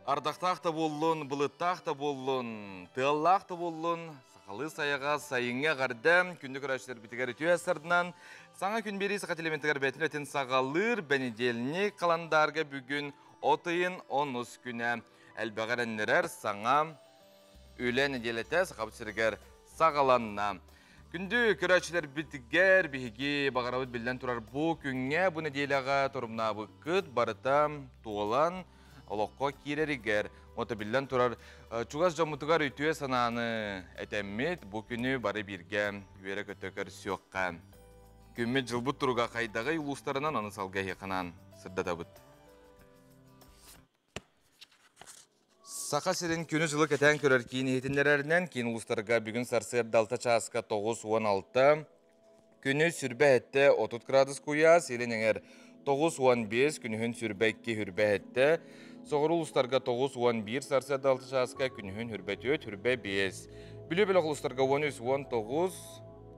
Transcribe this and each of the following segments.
Ардактаах да боллун, былыттаах да боллун, тыаллаах да боллун, сахалыы сайаҕа сайыҥҥа эҕэрдэ күндү көрөөччүлэрбитигэр үтүө сарынан саҥа күн биэрии саха телементигэр бэйэтин үлэтин саҕалыыр бэнидиэлник каландаарга бүгүн от ыйын онус күнэ. элбэҕи эрэннэрэр саҥа үлэ нэдиэлэтэ Сахабыт сиригэр саҕаланна. Күндү көрөөччүлэрбитгэр биһиги баҕарабыт биллэн турар бу күҥҥэ бу нэдиэлэҕэ торумнаабыккыт барыта туолан олоххо киирэригэр ото биллэн турар чугас дьоммутугар үтүө санааны этэммит бу күнү бары бииргэ үөрэ-көтө көрсүөххэ күммүт дьылбыт туруга хайдаҕый улуустарынан аны салгы эһиэхэнэн сырдатабыт Саха сирин күнү-сылы кэтээн көрөр киин иһитиннэрэринэн, киин улуустарга бүгүн сарсыарда алта чааска тоҕус уон алта, күнүс сүрбэ эттэ отут градус куйаас, илин эҥэр тоҕус уон биэс, күнүһүн сүрбэ икки хүрбэ эттэ, соҕуру улуустарга тоҕус уон биир сарсыарда алта чааска, күнүһүн хүрбэ түөрт, хүрбэ биэс, бүлүү бөлөх улуустарга он үс, он тоҕус,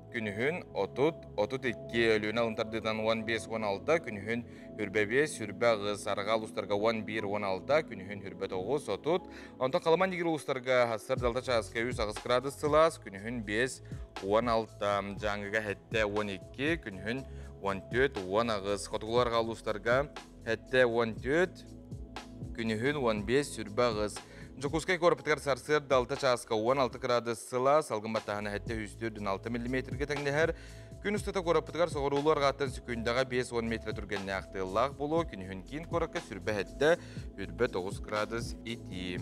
Күнүһүн отут, отут икки, Өлүөнэ алын тардыытынан уон биэс уон алта, күнүһүн үрбэ биэс, үрбэ аҕыс, арҕаа улуустарга уон биир уон алта, күнүһүн үрбэ тоҕус, отут. Онтон Халыма Нигер улуустарга сар залта чааска үс аҕыс градус сылаас, күнүһүн биэс уон алта, Дьааҥыга сэттэ уон икки, күнүһүн он төрт, уон аҕыс. Хотугулуу арҕаа улуустарга Эттэ уон түөрт, күнүһүн уон биэс сүрбэ аҕыс. Дьокуускай куораппытыгар сарсыарда алта чааска уон алты кыраадыс сыла, салгын баттаһана эттэ үс түөртүн алта миллиметргэ тэҥнэһэр. Күн устата куораппытыгар соҕуруулуу арҕааттан секундаҕа биэс уон метрэ түргэннээх тыаллаах буолуо, күнүһүн киин куоракка сүрбэ эттэ үрбэ тоҕус кыраадыс итии.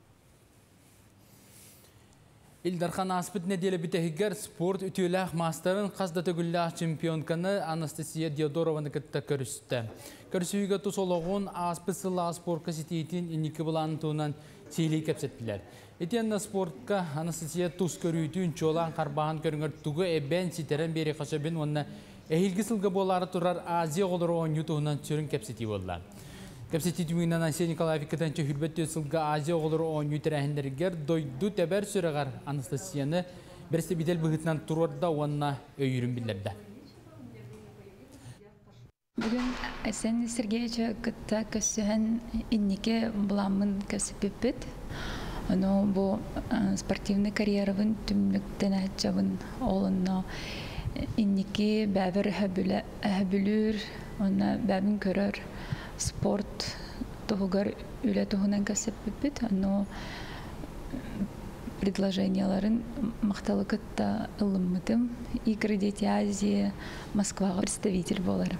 Ил Дархан ааспыт нэдиэлэ бүтэһигэр спорт үтүөлээх маастарын хас да төгүллээх чемпионканы Анастасия Диодорованы кытта көрүстэ. Көрсүһүүгэ тус олоҕун, ааспыт сыллаах спорка ситиитин инники былаанын туһунан сиилии кэпсэттилэр. Итиэннэ спортка Анастасия тус көрүүтүн, чуолаан харбааһын көрүҥэр тугу эбэн, ситэрэн биэриэхэ сөбүн уонна Эһиилги сылга буолаары турар Азия оҕолору оонньуу туһунан сүрүн кэпсэтии буолла. Кэпсэтии түмүгүнэн Ансель Николаев иккитэнчэ үрбэт түөрт сылга Азия оҕолору оонньуу тэрээһиннэригэр дойду тэбэр сүрэҕэр Анастасияны бэрэстэбиитэл быһыытынан туруорда уонна өйүүрүн биллэрдэ. Бүгүн Сен Сергеевичи кытта көрсүһэн инники былааммын көрсүппүппүт. Ону бу спортивный карьерабын түмнүк тэнэһиччабын Ол онно инники бэбир өһөбүлүүр уонна бэбин көрөр спорт туһугар үлэ туһунан кэпсэппиппит. Ону предложенияларын махталы кытта ылыммытым. Игры Дети Азии Москваҕа представитель буоларым.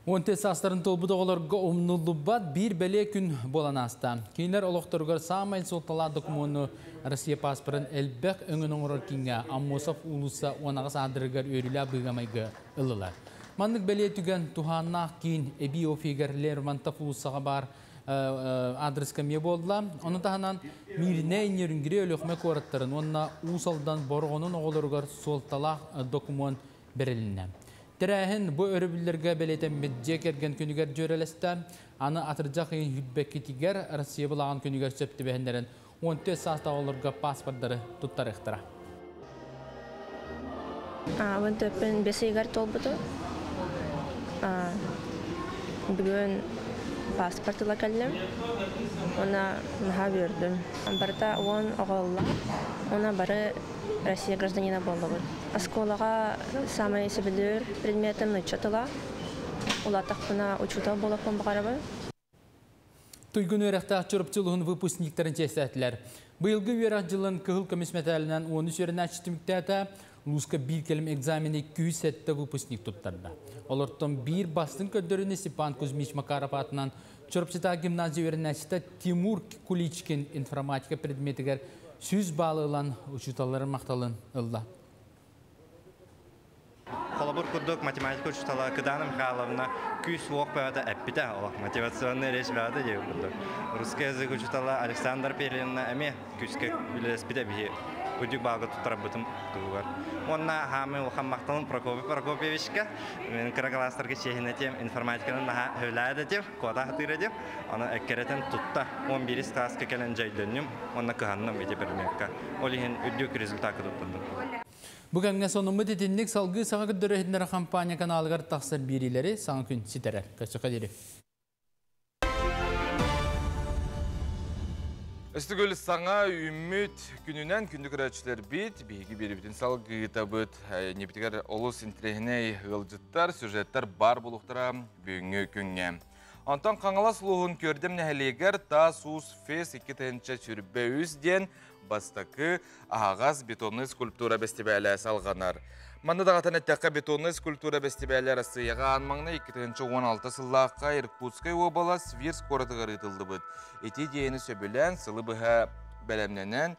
Он төрт саастарын толбут оҕолорго умнуллубат биир бэлиэ күн буолан ааста. Кинилэр олохторугар саамай суолталаах докумуону Россия паспорын элбэх өҥөн оҥорор кинигэ Аммосов уулусса уонаҕас аадырыгар үөрүүлээх быыгамайга ылылар. Маннык бэлиэ түгэн туһааннаах киин эбии офигар Лермонтов уулуссаҕа баар аадырыска эмиэ буолла. Ону таһынан Мииринэй, Нерюнгри, Өлүөхүмэ куораттарын уонна Уус Алдан Бороҕонун оҕолоругар суолталаах докумуон бэрилиннэ. Тэрээһин бу өрөбүллэргэ бэлиэтэммит дьиэ кэргэн күнүгэр дьүөрэлэстэ, аны атырдьах ыйын сүүрбэккитигэр Россия былааҕын күнүгэр сөп түбэһиннэрэн, уон түөрт саастаах оҕолорго пааспардары туттарыахтара. Аҕабын төрпөн бэс ыйыгар туолбутум. Бүгүн пааспарт ыла кэллим. Уна наһаа үөрдүм. Барыта уон оҕоллоох. Уна бары Россия гражданина буоллубут. Оскуолаҕа самый сөбүлүүр предметим нучча тыла. Улатахпына учуутал болоппун баҕарабын. Туйгун үөрэхтээх Чурапчы улуһун выпускниктарын чиэстээтилэр. Быйылгы үөрэх дьылын кыһыл көмүс мэтээлинэн 13 үөрэнээччи түмүктээтэ, лууска биир кэлим экзамени 207 выпускник туттарда. Олортон биир бастыҥ көрдөрүүнү Степан Кузьмич Макаров аатынан Чурапчытааҕы гимназия үөрэнээччитэ Тимур Куличкин информатика предметигэр сүүс балл ылан учууталларын махталын ылла. Холобур курдук, математика учуутала Кдана Михайловна күүс-уох бэҕэтэ эппитэ. Олох мотивационная речь бэҕэтэ диир курдук. Русский язык учуутала Александра Перинна эмиэ күүскэ үлэлэспитэ биһи үрдүк баалга туттарбытым туһугар. Уонна хаамыы улахан махталым Прокопий Прокопьевичка. Мен кырагалаастарга чиэһинэтим, информатиканан наһаа хөвлээд этим, куотаах атыыр этим. Аны эккирэтин тутта 11 кылааска кэлэн дьайдынным уонна кыһанным ити предметка. Ол иһин үрдүк результатка туттардым. Бу кэмҥэ сонуммут итинник салгыы саҥа көрдөрө иһиннэр хампаанньа каналыгар тахсар биэриилэри саҥа күн ситэрэр. Көсөкө дирим. Өстүгүл саҥа үүммүт күнүнэн күндү көрөөччүлэрбит биһиги биэрибитин салгыытабыт иннибитигэр олус интириэһинэй ыалдьыттар сюжеттар бар булуохтара бүгүҥҥү күҥҥэ Антон Хаҥалас улууһун Күөрдэм нэһилиэгэр Таас Уус Фес 2 тыһыынча сүрбэ үс диэн Бастакы аһаҕас бетонный скульптура бэстибээлэ салҕанар. Манна даҕатан эттэххэ, бетонный скульптура бэстибээлэ Арассыыйаҕа аан маҥнай 2016 сыллаахха Иркутскай уобалас Вирс куоратыгар ыытыллыбыт. Ити диэни сөбүлээн сылы быһа бэлэмнэнэн,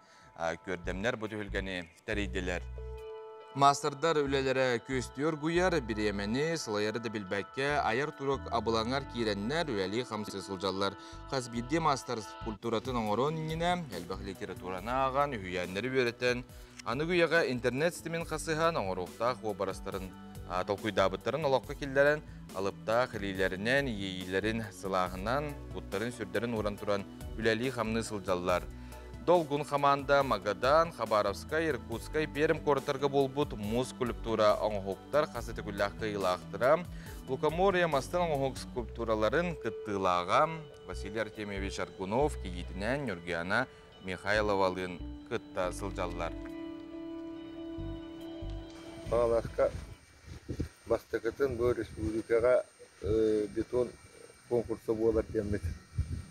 көрдөмнөр бу түһүлгэни тэрийдилэр. Маастардар үлэлэрэ күөстүү оргуйар, бириэмэни сылайары да билбэккэ, айар турук абылаҥар киирэннэр үлэлии-хамсыы сылдьаллар. Хас биирдии маастар культуратын оҥоруон иннинэ элбэх литератураны ааҕан, үһүйээннэри үөрэтэн, аныгы үйэҕэ интернет ситимин хасыһан оҥоруохтаах уобарастарын толкуйдаабыттарын олоххо киллэрэн, алыптаах илиилэринэн, иэйиилэрин сылааһынан, куттарын-сүрдэрин ууран туран үлэлии-хамныы сылдьаллар. Долгун хамаанда Магадан, Хабаровскай, Иркутскай, Пермь куораттарга буолбут муус скульптура оҥоһуктар хас итикүллээх кыайыылаахтара, лукоморье мастан оҥоһук скульптураларын кыттыылааҕа Василий Артемьевич Аргунов кийиитинэн Нюргиана Михайловалыын кытта сылдьаллар. Бааласка Бастакытын бу республикаҕа бетон конкурса буолар диэммит.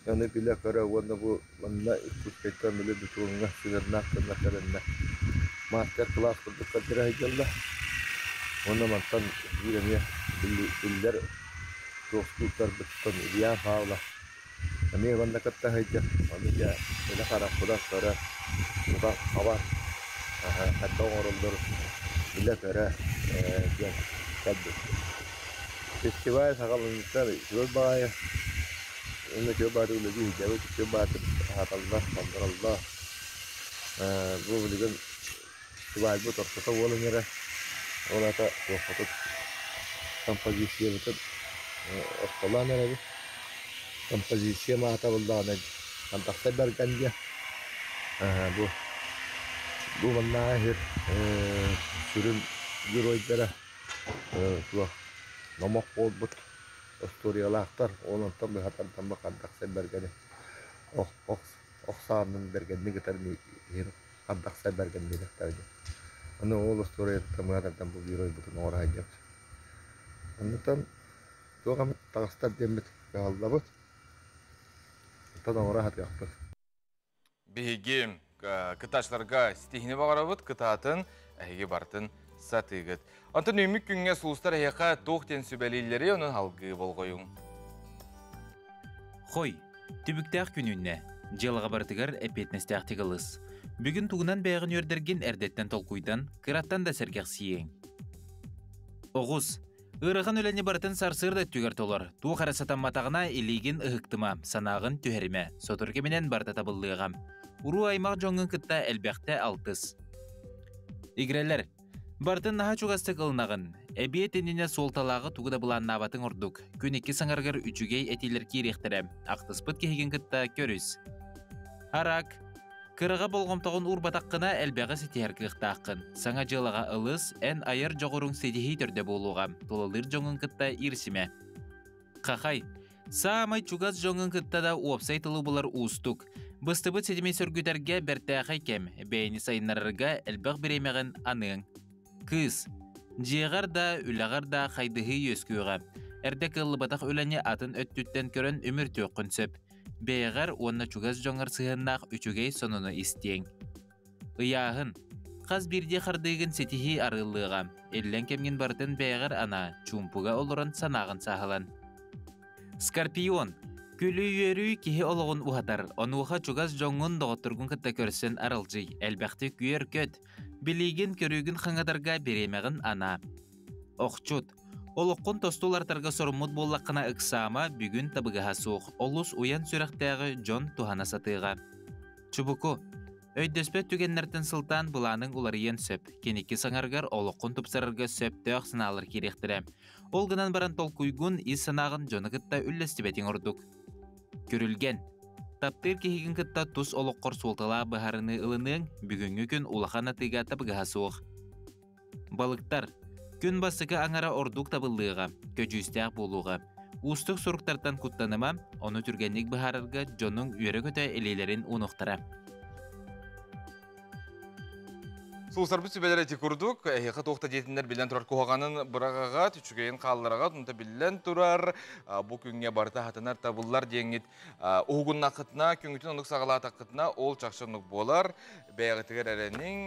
Аны билэ-көрө уонна бу манна Иркутскайтан били бетоҥҥа сыһыаннаах гынна тэриннэ. Маастар кылаас курдук көрдөрө сылдьаллар. Уонна мантан биир эмиэ биллэр суохтууттарбыттан Илья Павлов Эмиэ манна кытта сылдьар, ону дьэ илэ харахпынан көрөр, тута хабар хайдах оҥоруллар билэ-көрө ээ диэн кэлбиппин. Фестиваль саҕаланыыттан үчүгэй баҕайы уонна үчүгэй баҕайы үлэлии сылдьабыт, үчүгэй баҕайы аһаталлар, хонтороллор. Бу билигин Свадьбыт ортото уол иҥэрэ. Ол аата туохпутут композициябытын ортолоон эрэбит. Композициям аатабыллаҕына «Хантахтай Барганья» бу бу маннааҕы иһир сүрүн геройдара туох номох буолбут устуоруйалаахтар. Ол онтон быһа тардаммыт «Хантахтай Баргани» ох ох охсоонун бэргэнник ытар иһир Хардахсай Бэргэн диэтэхтэрэ дии. Аны ол остуоруйаттан мына тардан бу геройбутун оҥораһайдыбыт. Оннуттан туох эмит таҕыстар диэммит кыһаллабыт. Оттон оҥоро сатыахпыт. Биһиги кытаачыларга ситиһини баҕарабыт, кытаатын, эһиги барытын сатыыгыт. Онтон үүммүт күҥҥэ суустар эһиэхэ туох диэн сүбэлииллэрий, ону алгыы болҕойуҥ. Хой, түбүктээх күнүннэ, дьыалаҕа барытыгар эппиэтинэстээхтик ылыс. Бүгүн тугунан бэйэҕин үөрдэргин эрдэттэн толкуйдан, кыраттан да сэргэхсийиэҥ. Оҕус, ыарахан үлэни барытын сарсыарда өттүгэр толор. Туох эрэ сатамматаҕына илиигин ыһыктыма, санааҕын түһэримэ. Сотору кэминэн барыта табыллыаҕа. Уруу аймах дьоҥҥун кытта элбэхтэ алтыс. Игирэлэр, Бартын наһа чугастык ылынаҕын. Эбиэт иннинэ суолталааҕы тугу да былааннаабатың ордук. Күн икки саҥарыгар үчүгэй этиилэр киириэхтэрэ. Ахтыспыт киһигин кытта көрүс. Арак, кыраҕа болҕомтоҕун уурбатаххына элбэҕи ситиһэр кыахтааххын. Саҥа дьыалаҕа ылыс, эн айар дьоҕуруҥ ситиһии төрдө буолуоҕа. Тулалыыр дьоҥҥун кытта ирсимэ. Хахай, Саамай чугас дьоҥҥун кытта да уопсай тылы булар уустук. Быстыбыт ситими сөргүтэргэ бэртээхэй кэм, бэйэни сайыннарарга элбэх бириэмэҕин аныаҥ. Кыыс, дьиэҕэр да, үлэҕэр да хайдыһыы үөскүөҕэ. Эрдэ кыаллыбатах үлэни атын өттүттэн көрөн үмүртүөххүн сөп. Бэйэҕэр уонна чугас дьоҥҥор сыһыаннаах үчүгэй сонуну истиэҥ. Ыйааһын. Хас биирдии хардыыгын ситиһии арыллыаҕа. Иллэҥ кэмҥин барытын бэйэҕэр анаа, чуумпуга олорон санааҕын сааһылан. Скорпион. Күлүү-үөрүү киһи олоҕун уһатар. Онуоха чугас дьоҥҥун доҕотторгун кытта көрсөн аралдьый. Элбэхтик үөр-көт. Билиигин-көрүүгүн хаҥатарга бириэмэҕин анаа. Охчут. Олоххун тосту улартарга соруммут буоллаххына ыксаама, бүгүн табыгаһа суох, олус уйан сүрэхтээҕи дьон туһана сатыыга. Чубуку, өйдөспөт түгэннэртэн сылтаан былааныҥ уларыйыан сөп. Киники саҥаргар олоххун тупсарарга сөптөөх санаалар кириэхтэрэ. Ол гынан баран толкуйгун ис санааҕын дьону кытта үллэстибэтиҥ ордук. Көрүлгэн. Таптыыр киһигин кытта тус олоххор суолталаах быһаарыныы ылыныаҥ бүгүҥҥү күн улахан атыыга табыгаһа суох. Балыктар күн бассыкы аҥара ордук табыллыаҕа, көдьүүстээх буолуоҕа. Уустук суруктартан куттаныма, ону түргэнник быһаарарга дьонуҥ үөрэ-көтө илиилэрин уунуохтара. Сулусарбыт сүбэлэр эти курдук, эһиэхэ туох да диэтиннэр биллэн турар куһаҕанын быраҕаҕыт, үчүгэйин хааллараҕыт, онто биллэн турар, бу күҥҥэ барыта хатанар табыллар диэҥҥит уһугуннаххытына, күҥҥүтүн оннук саҕалаатаххытына, ол чахчы оннук буолар. бэйэҕитигэр эрэниҥ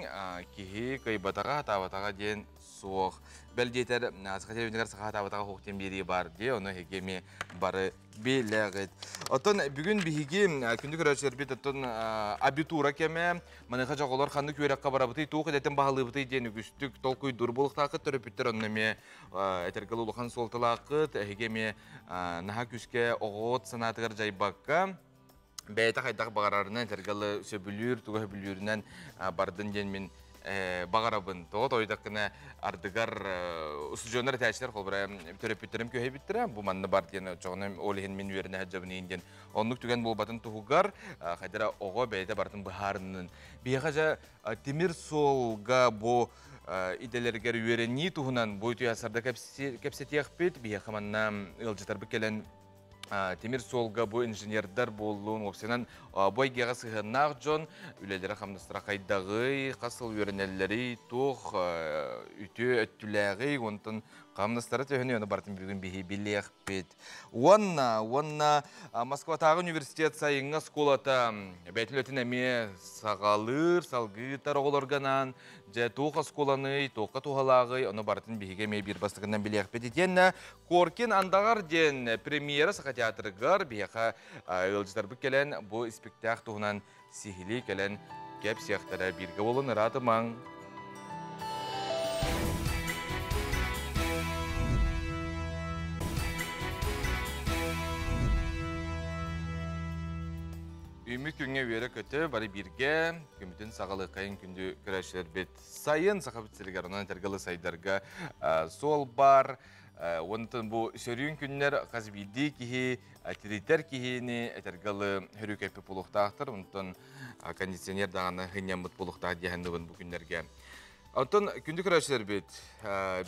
киһи кыйбатаҕа хатаабатаҕа диэн суох бэл диэтэр саха телевизорыгар саха хатаабатаҕа уһук тиин биэрии баар дии ону эһиги эмиэ бары билэҕит оттон бүгүн биһиги күндү көрөөччүлэрбит оттон абитура кэмэ маныаха дьоҕолор ханнык үөрэххэ барабытый туох идэтин баһылыыбытый диэн үгүстүк толкуйдуур буолуохтааххыт төрөппүттэр онно эмиэ этэргэ улахан суолталааххыт эһиги эмиэ наһаа күүскэ оҕоҕут санаатыгар дьайбакка бэйэтэ хайдах баҕарарынан этэргэ ылы сөбүлүүр туга сөбүлүүрүнэн бардын диэн мин баҕарабын тоҕо тойдаккына ардыгар устудьуоннар этээччилэр холбура төрөппүттерим күһэйбиттэрэ бу манна бар диэн оччоҕуна ол иһин мин үөрэнэ сылдьабын иһин диэн оннук түгэн буолбатын туһугар хайдара оҕо бэйэтэ барытын быһаарынын биһиэхэ дьэ тимир суолга бу идэлэригэр үөрэнии туһунан бу үйэ сарда кэпсэтиэхпит биһиэхэ манна ыалдьытарбыт кэлэн Тимир суолга бу инженердар буоллун, уопсайынан бу эйгэҕэ сыһыаннаах дьон үлэлэрэ-хамнастара хайдаҕый, хас сыл үөрэнэллэрий, туох үтүө өттүлээҕий, уонтан хамнастара төһөнү аны барытын бүгүн биһи билиэхпит. Уонна уонна Москватааҕы университет сайыҥҥы оскуолата бэйэтин үлэтин эмиэ саҕалыыр, салгыытар оҕолоргонаан дьэ туох оскуоланый, туохха туһалааҕый, ону барытын биһиги эмиэ биир бастакынан билиэхпит итиэннэ Коркин Андаҕар диэн премьера Саха театрыгар биһиэхэ ыалдьытарбыт кэлэн бу испиктээк туһунан сиһилии кэлэн кэпсиэхтэрэ бииргэ буолун ыраа тымаҥ Үмү күҥҥэ үөрэ көтө бары бииргэ күммүтүн саҕалыаххайын күндү көрөөччүлэрбит сайын Саха сиригэр онон этэргалы сайдарга суол баар Онтон бу сөрүүн күннэр хас биирдии киһи тиритэр киһини этэргэ ылы хөрүкэппит булуохтаахтар. Онтон кондиционер даҕаны хынньаммыт булуохтаах диэхэнныбын бу күннэргэ. Оттон күндү көрөөччүлэрбит,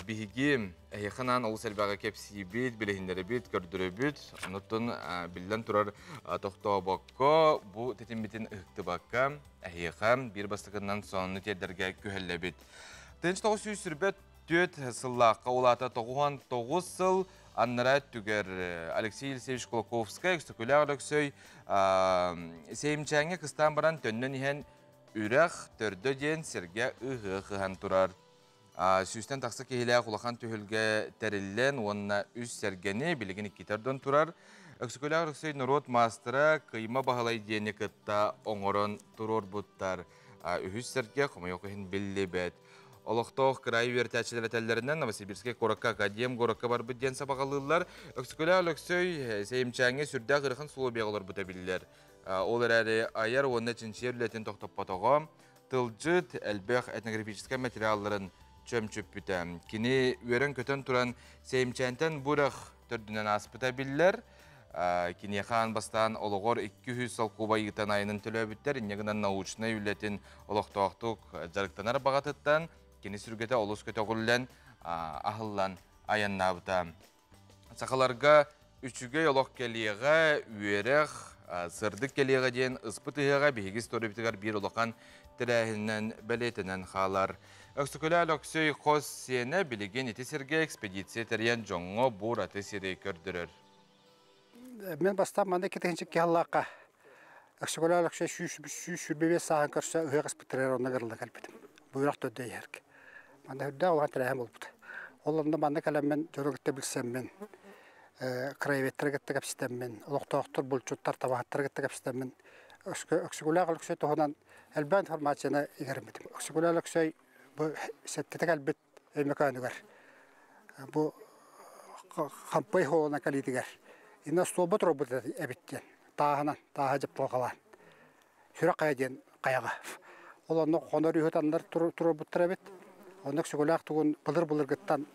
биһиги эһиэханаан олус элбэҕи кэпсиибит, билиһиннэрэбит, көрдөрөбүт. Онтон биллэн турар тохтообокко бу тэтиммитин ыһыктыбакка, эһиэхэ биир бастакынан сонуну тиэрдэргэ күһэллэбит. Тыынч тоҕус сүүс сүрбэт Түөрт сыллаахха улаата тоҕуһан тоҕус сыл аннара түгэр Алексей Алексеевич Кулаковскай, Өксөкүлээх Өлөксөй Сеймчээҥҥэ кыстаан баран төннөн иһэн үрэх төрдө диэн сиргэ ыһыы кыһан турар. Сүүстэн тахса киһилээх улахан түһүлгэ тэриллэн уонна үс сэргэни билигин икки төрдөн турар. Өксөкүлээх Өлөксөй норуот маастара Кыйма Баһылай диэни кытта оҥорон туруорбуттар. Үһүс сэргэ хомойуох иһин биллибэт. олохтоох кыраай үөрэтээччилэр этэллэринэн Новосибирский куоракка академ куоракка барбыт диэн сабаҕалыыллар Өксүкүлэ Өлөксөй Сеймчээҥҥэ сүрдээх ыарахан условиеҕа олорбута биллэр ол эрээри айар уонна чинчийэр үлэтин тохтоппотоҕо тылдьыт элбэх этнографическай материалларын чөмчүппүтэ кини үөрэн-көтөн туран Сеймчээнтэн бурах төрдүнэн ааспыта биллэр Киниэхэ аан бастаан олоҕор икки үһүс солкуобай ыытан айанын төлөөбүттэр. Инньэ гынан научнай үлэтин олохтоохтук дьарыктанар баҕатыттан кини сүргэтэ олус көтөҕүллэн, аһыллан айаннаабыта. Сахаларга үчүгэй олох кэлиэҕэ, үөрэх, сырдык кэлиэҕэ диэн ыспыт ыһыаҕа биһиги историябытыгар биир улахан тэрээһининэн бэлиэтэнэн хаалар. Өксөкүлээл Өксөй хос сиэнэ билигин ити сиргэ экспедиция тэрийэн дьоҥҥо бу ураты сири көрдөрөр. Мин бастаан манна икки тыһыынча икки сыллаахха Өксөкөлөөн Өксө сүүс сүүс сүүрбэ биэс сааһын көрсө ыһыах испиттэригэр онно гырылла кэлбитим. Быыһах төрдө иһэргэ. Манна үрдээх улахан тэрээһин буолбута. Ол онно манна кэлэммин дьону кытта билсэммин, краеведтары кытта кэпсэтэммин, олохтоохтор, булчуттар, табаһыттары кытта кэпсэтэммин Өксөкөлөөх Өксөй туһунан элбэх информацияны игэрэммитим. Өксөкөлөөн Өксөй бу сэттитэ кэлбит меканигар бу хампай холона калитигар иностуолбут робот эбит диэн тааһынан тааһа дьапталҕалаан сүрэх хайа диэн хайаҕа ол онно хонор үһү таннар турурбуттар эбит онно өксөкөлөөх тугун былыр былыргыттан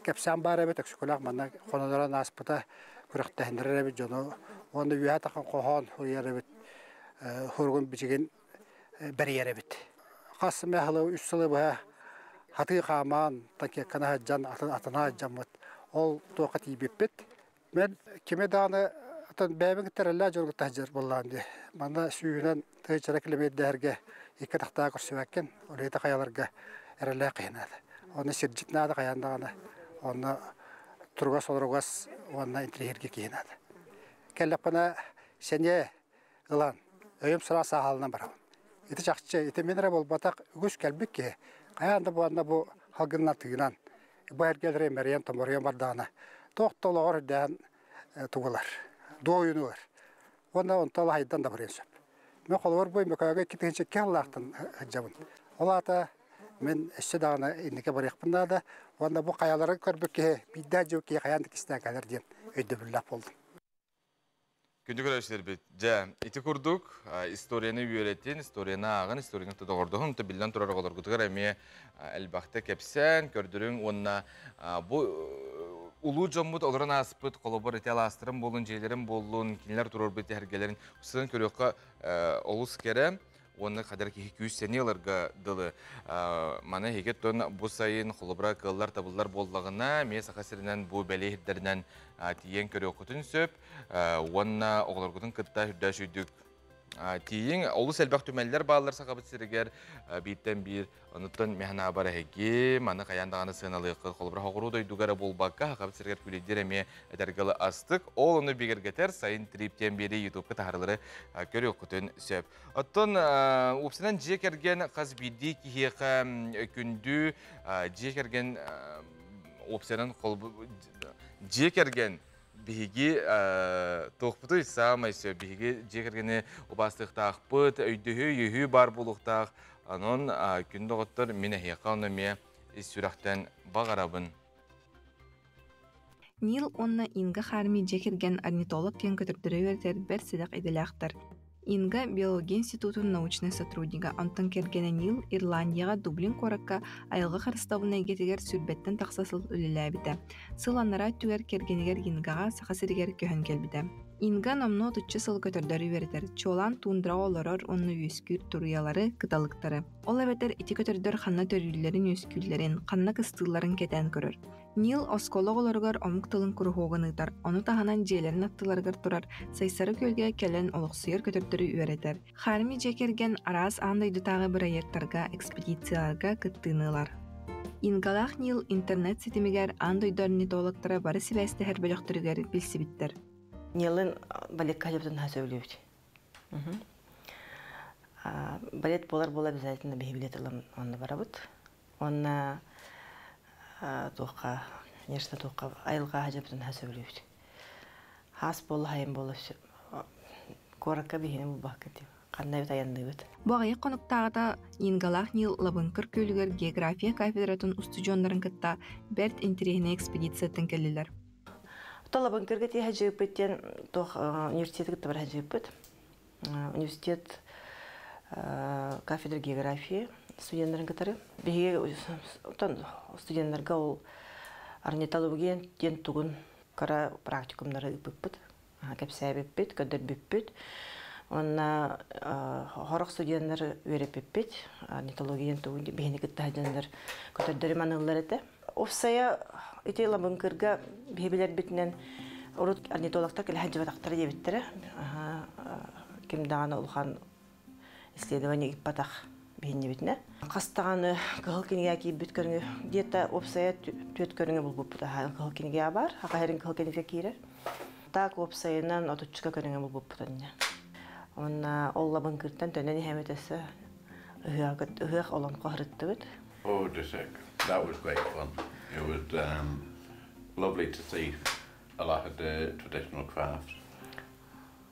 кэпсээн баар эбит өксөкөлөөх манна хонолорон ааспыта күрэхтэһиннэрэр эбит дьону уонна үөһэ тахан хоһоон уйар эбит хоругун бичигин бэрийэр эбит. Хас эмэ сыла үс сылы быһа хатыы хаамаан, такекканы сылдьан атына сылдьаммыт. Ол туохха тиийбиппит. Мен кими даҕаны отон бэйэбин кытараллаа дьон кытта сылдьар буоллаан дии. Манна сүүһүнэн тыычара килэмиэрдээһэргэ икки атахтаах көрсүбэккин, улита хайаларга эрэлээх киһинээтэ. Ону сирдьит наада хайаан даҕаны онно туругас олоругас уонна интеллигирге киһинээтэ. Кэллэхпинэ сэниэ ылан өйүм-санаа сааһалынан барабын. Ити чахчы, ити мин эрэ буолбатах үгүс кэлбит киһи хайаан да буонна бу халгынынан тыынан бу эргэлэри мэрийэн томоруйан бардаҕына туох да олоҕор үрдээн тугулар, дуойунугар уонна онто лаһайдан да барыан сөп. Мен холобур бу Мөкөөгө икки тыһынча икки аллаахтан сылдьабын. Ол аата мен өссө даҕаны иннике барыахпын наада уонна бу хайалары көрбүт киһи биирдээ дьыл киһи хайаан да кистээн кэлэр диэн өйдөбүллээх болдум. Күндү көрөөччүлэрбит, дьэ, ити курдук историяны үөрэтин, историяны ааҕын, историяны доҕордоһун, та биллэн турар оҕолоргутугар эмиэ элбэхтэ кэпсээн, көрдөрүҥ уонна бу улуу дьоммут олорон ааспыт холобур ити алаастарын буоллун, дьиэлэрин буоллун, кинилэр туруорбут эһэргэлэрин сытан көрүөххэ олус кэрэ. уонна хадара киһи күүстэни ыларга дылы маны эһиги тон бу сайын холобура кыллар табыллар буоллаҕына ме саха сиринэн бу бэлиэ ирдэринэн тиийэн көрүөххүтүн сөп уонна оҕолоргутун кытта үрдөөс үйдүк тиийиҥ олус элбэх түмэллэр бааллар сахабыт сиригэр бииртэн биир онуттан механабар эһиги маны хайаан даҕаны сыаналыаххыт холобура хоҕуруу дойдугар буолбакка сахабыт сиригэр күлейдир эмиэ этэргалы астык ол ону бигэргэтэр сайын триптиэн биэрии ютубка таһарлары көрүөххүтүн сөп Оттон УПС-нан дьиэ кэргэн хас биирдии киһиэхэ күндү дьиэ кэргэн УПС-нан дьиэ кэргэн биһиги туохпутуй саамай сөп биһиги дьиэ кэргэни убаастыахтаахпыт өйдөһүү-өйөһүү баар буолуохтаах онон күн доҕоттор мин эһиэхэ ону эмиэ ис сүрэхтэн баҕарабын Нил уонна Инга Харми дьиэ кэргэн орнитолог диэн көтөрдөрө үөрэтэр бэрт сэдэх идэлээхтэр. Инга биология институтун научнай сотруднига, онтон кэргэнэ Нил Ирландияҕа Дублин куоракка айылҕа харыстабылын эйгэтигэр сүүрбэттэн тахса сыл үлэлээбитэ. Сыл анараа өттүгэр кэргэнигэр Ингаҕа Саха сиригэр көһөн кэлбитэ. Инга номнуо отучча сыл көтөрдөрү үөрэтэр, чуолаан тундраҕа олорор уонна үөскүүр туруйалары, кыталыктары. Ол эбэтэр ити көтөрдөр ханна төрүүллэрин-үөскүүллэрин, ханна кыстыылларын кэтээн көрөр. Нил оскуола оҕолоругар омук тылын куруһуогун ыытар, ону таһынан дьиэлэрин аттыларыгар турар Сайсары күөлгэ кэлэн олохсуйар көтөрдөрү үөрэтэр. Харми дьиэ кэргэн араас аан дойдутааҕы бырайыактарга, экспедицияларга кыттыыны ылар. Ингалаах Нил интернет ситимигэр аан дойду орнитологтара бары сибээстэһэр бөлөхтөрүгэр билсибиттэр. Нилын баликка сөбүлүүбүт. балет буолар буолар обязательно биһи билет ылан онно барабыт уонна туохха нерсна туохха айылҕа дьабытын ха сөбүлүүбүт хаас буола хайын буола все куоракка биһини булбакка тим ханна эбит айанныыбыт бу аҕыйах хонуктааҕыта Ингалаах Нил Лабынкыр күөлүгэр география кафедратын устудьуоннарын кытта бэрт интириэһинэй экспедициятын кэллилэр Толобын кыргыт я жыпыт тен тох университеты кытта баран жыпыт. Университет кафедра географии студенттарын кытары. Биһиги студенттарга ол орнитология диэн тугун кара практикумнары ыппыппыт. кэпсээбиппит, көрдөрбүппүт. Уонна хорох студеннар үөрэппиппит. Орнитологиyan тугу биһини кытта сылдьаннар көтөрдөрүм аналлар этэ. Уопсайа ити ылабын кырга биһи билэрбитинэн урут орнитологтар кэлэ сылдьыбатахтара диэбиттэрэ. Ким даҕаны улахан исследование ыыппатах биһиннибитинэ хас даҕаны кыһыл кинигэ киирбит көрүҥү где-то уопсайа түөрт көрүҥү булбуппут аhaa кыһыл кинигэ баар аҕа эрин кыһыл кинигэ киирэр так уопсайынан отучча көрүҥү булбуппут инньэ онно ол лабын кыртан төнөн иһэмит өссө ыһыах олоҥхо сырыттыбыт Oh, just a, that was great fun. It was um, lovely to see a lot of the traditional crafts.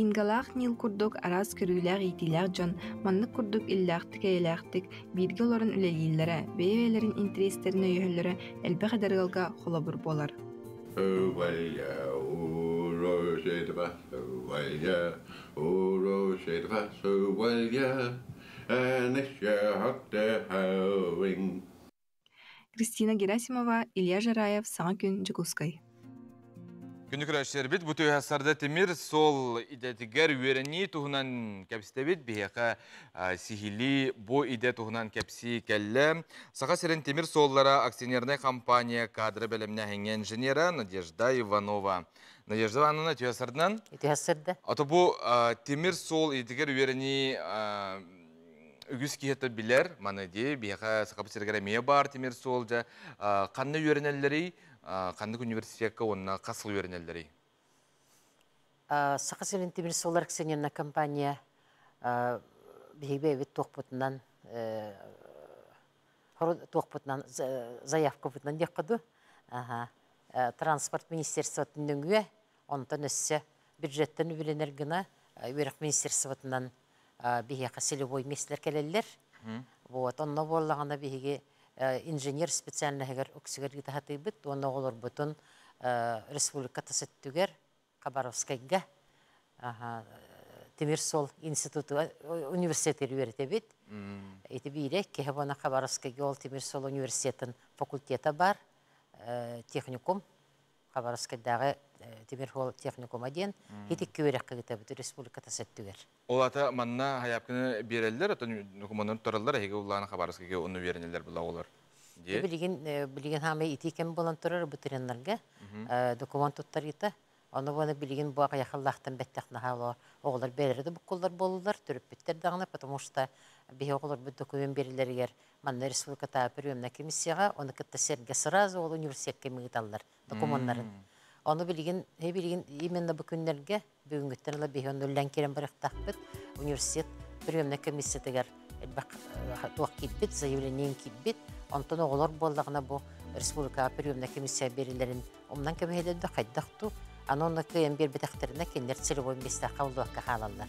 Ингалаах Нил курдук араас көрүүлээх-иитиилээх дьон маннык курдук иллээхтик-эйэлээхтик бииргэ олорон үлэлииллэрэ, бэйэ-бэйэлэрин интэриэстэрин өйөһөллөрө элбэх эдэр ыалга холобур буолар. Кристина Герасимова, Илья Жараев, саҥа күн Дьокуускай. Күндүк күрөчсербит бу түһэ сарда тимир сол идэтигэр үөрэнии туһунан кэпсэтэбит биһиэхэ сиһилии бу идэ туһунан кэпсии кэллэ саха сирин тимир суоллара акционернай компания кадры бэлэмнээһиҥҥэ инженера надежда иванова надежда ивановна түһэ сардынан түһэ сырда ото бу тимир суол идэтигэр үөрэнии үгүс киһитэ билэр, маныдыы биһиэхэ Сахабыт сиригэр эмиэ баар тимир суол дьэ ханна үөрэнэллэрий, ханнык университекка уонна хас сыл үөрэнэллэрий? Саха сирин тимир суоллар акционерная компания биһиги эбит туохпутунан туохпутунан заявкабытынан диэххэ ду транспорт министерствотын нөҥүө онтон өссө бюджеттан үбүлэнэр гына үөрэх министерствотынан биһиэхэ целевой мессler кэлэллэр. Вот онно буоллаҕына биһиги инженер специальноһыгар үксүгэр ыытаһатыйбыт уонна оҕолорбутун республика тас өттүгэр Хабаровскайга Тимир сол институту университетыгар үөрэтэбит. Ити биирэ киһи буона Хабаровскайга ол Тимир сол университетын факультета бар техникум Хабаровскайдааҕы Тимир Хуол техникума диэн итикки үөрэххэ кытабыт республиката сөртүгэр. Ол ата манна хайаапканы биэрэллэр, оттон докумуоннарын туттараллар, эһиги улахан Хабаровскайга онно үөрэнэллэр была оҕолор. Билигин билигин хаамай итии кэм буолан турар ветеринарга документ туттарыыта. Ону буону билигин бу айахаллаахтан бэттэх наһаа оҕолор бэрэрэ да буккуллар буоллулар, түрүппүттэр даҕана, потому что биһи оҕолорбут документ берилэригэр Манна республикатааҕы приемнай комиссияҕа ону кытта сэргэ сразу ол университекка ыыталлар докумуоннарын. Ону билигин билигин именно бу күннэргэ бүгүҥҥүттэн ыла биһи ону үллэн киирэн барыахтаахпыт. Университет приемнай комиссиятыгар элбэх туох киирбит, заявлением киирбит. Онтон оҕолор буоллаҕына бу республикаҕа приемнай комиссия берилэрин умнан көмүһэлэрдө хайдах ту аны онно кыайан биэрбэтэхтэринэ кинилэр целевой местахха улуокка хаалаллар.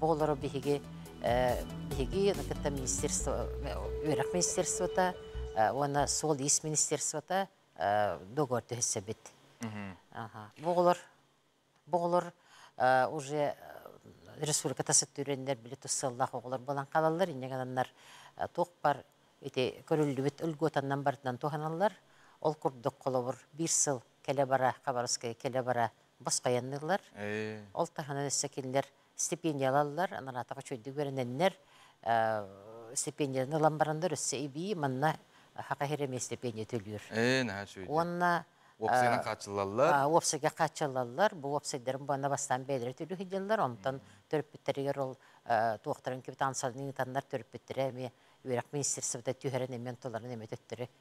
Бу олору биһиги биһиги кытта министерство үөрэх министерствота уонна суол-иис министерствота договор түһүсэбит. Бу олор бу олор уже республиката сыттыреннер били туссаллах оголор болан калаллар иннегенаннар туохпар ити көрүллүбүт өлготаннан барытынан туһаналлар ол курдук холобур бир сыл келе бара хабаровская келе бара баспайанныыллар. Ол таһынан өссө кинилэр стипендиялаллар, анараатаҕа үчүгэйдик үөрэнэннэр, стипендияны ылан бараннар өссө эбии манна Саха Хиремиэ стипендия төлүүр. Ээ, наһаа үчүгэй. Уонна уопсайынан хааччыллаллар. Уопсайга хааччыллаллар. Бу уопсайдарын буонна бастаан бэйэлэрэ төлүү сылдьаллар, онтон төрөппүттэригэр ол туохтарын капитансаларын ыытаннар төрөппүттэрэ эмиэ үөрэх министерствота түһэрэн эмиэ онтуларын эмиэ төттөрү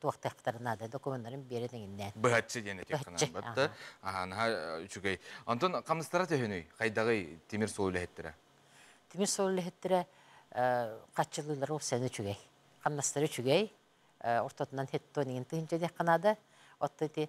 туохтахтар наада документарын биэрэн эҥиннээн быһаччы диэн этиэх санаан барда аһаанаһа үчүгэй онтон хамнастара төһөнүй хайдаҕый тимир суол үлэһиттэрэ тимир суол үлэһиттэрэ хаччылыылара ол сән үчүгэй хамнастара үчүгэй ортотунан хеттон иҥин тыһынча диэххэ наада отто ити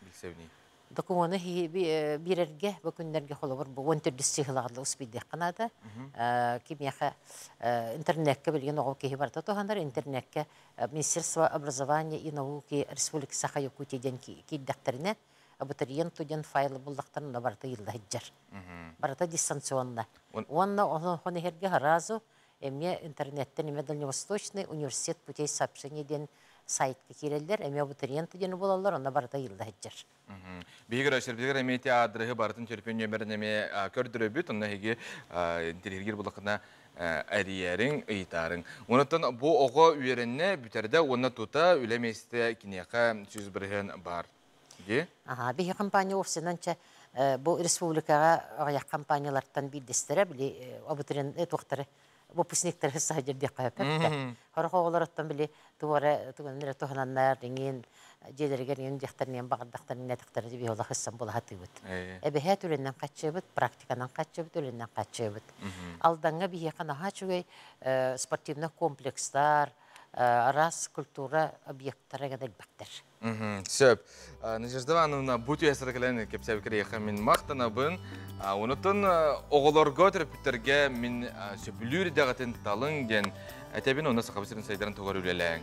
Билсэбиний? докумуону биэрэргэ бу күннэргэ холобур бу он төрдүс сыһылаҕын успейдыахха наада кимиэхэ интернекке билген оҕо киһи барыта туһанар интернекке министерство образования и науки республика саха якутия диэн киирдэхтэринэ абитуриент туден файлы буллахтарын барыта ыйылла сыдьар барыта дистанционно уонна оны иһерге разу Эмиэ интернеттэн эмиэ Дальневосточный университет путей сообщений диэн сайтка киирэллэр, эмиэ абитуриент диэни булаллар, онно барыта ыйылла сылдьар. Биһиги Россия эмиэ театрыһы барытын чөрөпүөн нөмерин эмиэ көрдөрөбүт, онно эһиги интирииргир булакына эрийэриҥ, ыйытаарыҥ. Онуттан бу оҕо үөрэннэ, бүтэрдэ уонна тута үлэ миэстэ киниэхэ сүүс бырыһыан баар. Аһаа, биһи хампаанньа вовсенан чэ бу республикаҕа аҕыйах хампаанньалартан биирдэстэрэ били обутрен туохтары выпускниктары саһыдьар диэххэ сөп Сорох оҕолоруттан били тугу эрэ тугунан эрэ туһананнар иҥин дьиэлэригэр иҥин диэхтэриниэн баҕардахтарын иҥнэтэхтэрэ диэбиһи олох ыксан булаһа атыыбыт Эбэһээт үлэнэн хаччыабыт, практиканан хаччыабыт, үлэнэн хаччыабыт Алдаҥҥа биһиэхэ наһаа үчүгэй спортивнай комплекстар араас культура объектара гына элбэхтэр сөп Надежда Ивановна бу түһэсэрэ кэлэн кэпсээбиккэ мин махтанабын онутун оҕолорго төрөппүттэргэ мин сөпүлүүр идэҕитин талыҥ диэн этэбин онно саха сирин сайдарын тугар үлэлээҥ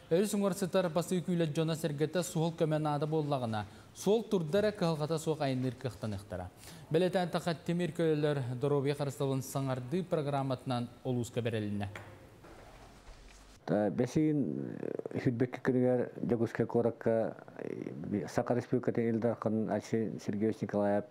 Өрүс уҥар сытар басыы күүлэт дьоно-сэргэтэ суол көмө наада буоллаҕына, суол турда эрэ кыһалҕата суох айанныыр кыахтаныахтара. Бэлэтээтэххэ, тимир көлөлөр доруобуйа харыстабылын саҥардыы программатынан улууска бэрилиннэ. Бэсиин сүүрбэкки күнүгэр Дьокуускай куоракка Саха Республикатын Ил Дарханын Айсен Сергеевич Николаев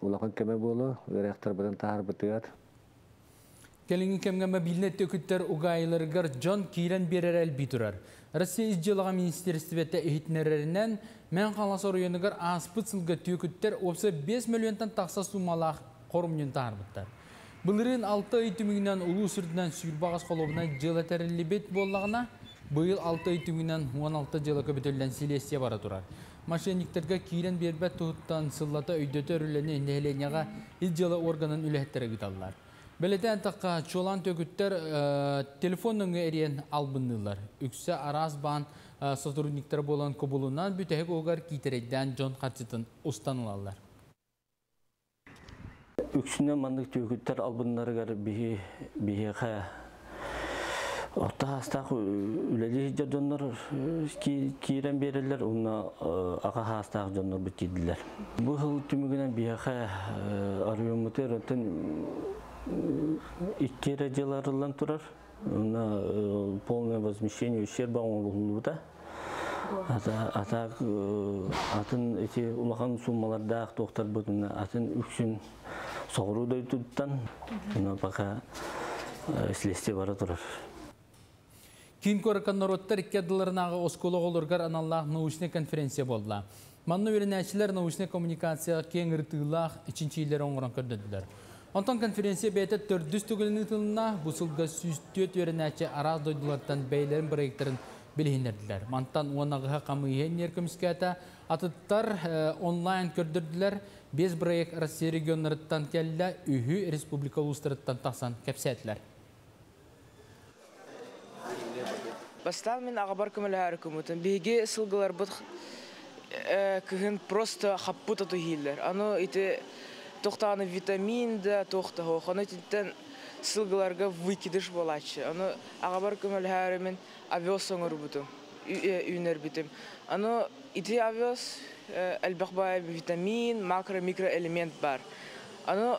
улахан көмө буолуо, ыарахтарбытын таһаарбытыгар. Кэлиҥҥи кэмҥэ мобильнай төкүттэр угаайыларыгар дьон киирэн биэрэрэ элбии турар. Россия ис дьыалаҕа министиэристибэтэ иһитиннэрэринэн, Мээн Хаҥалас оройуонугар ааспыт сылга түөкүттэр уопсай 5 мөлүйүөнтэн тахса суумалаах хорумньуну таһаарбыттар. Былырыын 6 ый түмүгүнэн улуус үрдүнэн сүүр баҕас холуобунай дьыала тэриллибит буоллаҕына, быйыл 6 ый түмүгүнэн 16 дьыала көбүтүллэн силиэстийэ бара турар. Мошенниктэргэ киирэн биэрбэт туһуттан сыллата өйдөтөр үлэни нэһилиэнньэҕэ Ил дьыала органын үлэһиттэрэ ыыталлар. Бэлэтээтэххэ, чуолаан төгүттэр телефон нөҥүө эрийэн албынныыллар. Үксэ араас баан сотрудниктара буолан кубулунан бүтэһик угар киитэрэйдээн дьон харчытын устан ылаллар. Үксүнэн маннык түөкүттэр албыннарыгар биһи биһиэхэ орто саастаах үлэлии сылдьар дьоннор киирэн биэрэллэр уонна аҕа саастаах дьоннорбут тиийдилэр. Бу сыл түмүгүнэн биһиэхэ оройуоммутугар икки эрэ дьыл арыллан турар. полное возмещение ущерба оҥоһуллубута атаак атын эти улахан суммалардаах туохтарбытын атын үксүн соҕуруу дойдуттан пока следствие бара турар Киин куоракка норуоттар икки ардыларынааҕы оскуола оҕолоругар аналлаах научнай конференция буолла. Манна үөрэнээччилэр научнай коммуникацияҕа киэҥ ырытыылаах чинчийиилэри оҥорон көрдөрдүлэр. Онтон конференция бэйэтэ төрдүс түгэнинэн ыытылынна. Бу сылга сүүс түөрт үөрэнээччи араас дойдулартан бэйэлэрин проектарын билиһиннэрдилэр. Мантан уон аҕыһа хамыыһыйа көмүскээтэ. Атыттар онлайн көрдөрдүлэр. Биэс проект Россия регионнарыттан кэллэ, үһү республика улуустарыттан тахсан кэпсээтилэр. Бастаан мин аҕабар көмөлөһөөрү куммутум. Биһиги сылгыларбыт кыһын просто хаппыт оту иһииллэр. Аны ити тохтоону витамин да, туох да суох. Ону итинтэн сылгыларга выкидыш буолааччы. Аны аҕабар көмөлөһөөрү мин овес оҥорбутум, үүнэрбитим. Аны ити овес элбэх баай витамин, макро-микроэлемент баар. Аны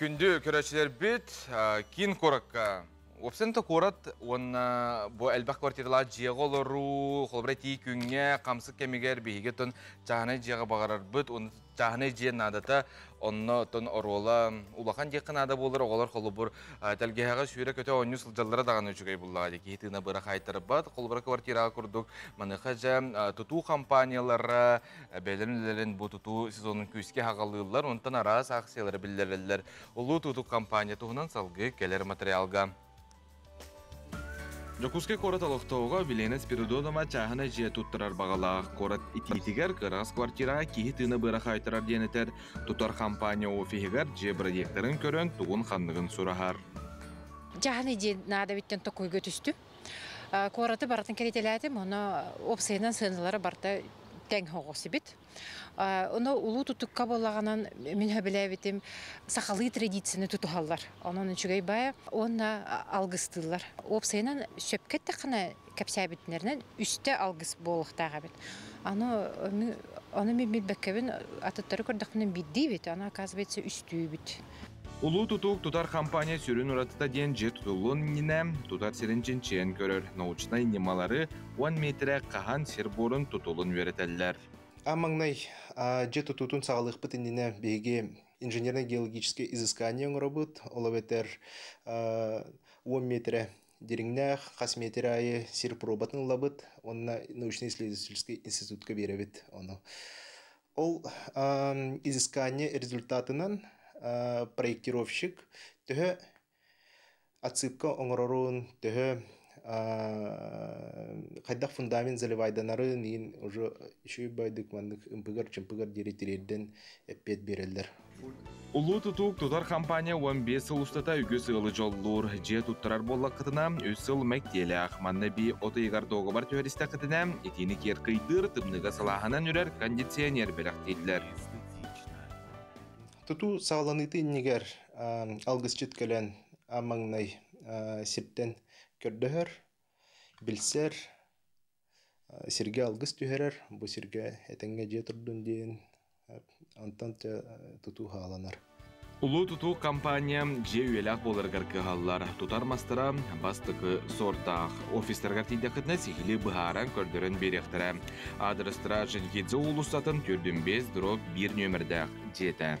Күндү көрөөччүлэрбит киин куоракка Уопсанта куорат уонна бу элбэх квартиралаах дьиэҕэ олоруу, холобура тии күҥҥэ, хамсык кэмигэр биһиги тон чааһынай дьиэҕэ баҕарарбыт, уонна чааһынай дьиэ наадата Онно оттон оруола улахан диэххэ наада буолар оҕолор холобур тэлгэһэҕэ сүүрэ-көтө оонньуу сылдьаллара даҕаны үчүгэй буоллаҕа дии киһи тыына быра хаайтарбат холобура квартираҕа курдук маныаха дьэ тутуу хампааньалара бэйэлэрин үлэлэрин бу тутуу сезонун күүскэ аҕалыыллар онтон араас ааксыйалары биллэрэллэр улуу тутуу хампааньа туһунан салгыы кэлэр материалга Дьокуускай куорат олохтооҕо Белена Спиридонова чааһына дьиэ туттарар баҕалаах. Куорат итиитигэр кыраҕас квартираҕа киһи тыына быара хаайтарар диэн этэр. Тутар хампаанньа офиһыгар дьиэ бырайыактарын көрөн тугун-ханныгын сураһар. Дьаһаны диэн наадабиттэн токуйга түстүм. Куораты барытын кэритэлээтим, ону уопсайынан сыаналара барта тэҥ соҕусибит. Ону улуу тутукка буоллаҕынан мин сөбүлээбитим сахалыы традицияны тутуһаллар. Онон үчүгэй бая уонна алгыстыыллар. Уопсайынан сөпкө эттэххинэ кэпсээбитинэринэн үстэ алгыс буолуохтаах эбит. Аны ону мен билбеккебин атыттары көрдөхпүнэ биирдиибит, аны оказывается үстүүбүт. Улуу тутуук тутар хампаанньа сүрүн уратыта диэн дьиэ тутуллуон иннинэ тутар сирин чинчийэн көрөр научнай ньымалары уон миэтирэ хаһан сир буорун тутулун үөрэтэллэр. А маҥнай дьиэ тутуутун саҕалыахпыт иннинэ биһиги инженерно-геологическое изыскание оҥоробут, ол эбэтэр уон миэтирэ дириҥнээх хас миэтирэ аайы сир пробатын ылабыт уонна научнай-исследовательский институтка биэрэбит ону. Ол изыскание результатынан проектировщик төһө отсыпка оҥорорун, төһө хайдах фундамент заливайданарын иһин уже үчүгэй байдык маннык ымпыгар-чымпыгар диэри тириэрдэн эппиэт биэрэллэр. Улуу тутуук тутар хампаанньа уон биэс сыл устата үгүс ыалы дьоллуур. Дьиэ туттарар буоллаххытына, үс сыл мэктиэлээх. Манна би от ыйыгар дуогабар түһэристэххитинэ, итиини киэркыйдыыр, тымныыга салааһынан үрэр кондиционер бэлэхтииллэр. Тутуу саҕаланыытын иннигэр алгысчыт кэлэн маҥнай сиптэн көрдөһөр, билсэр, Сиргэ алгыс түһэрэр, бу сиргэ этэҥҥэ дьиэ турдун диэн онтон тутуу хааланар. Улуу тутуу компания дьиэ үйэлээх буоларыгар кыһаллар. Тутар мастара бастакы сордаах. Офистаргар тиийдэххитинэ сиһили быһааран көрдөрөн биэриэхтэрэ. Аадырыстара Женхидзе уулуссатын 4,5 дробь 1 нөмердээх дьиэтэ.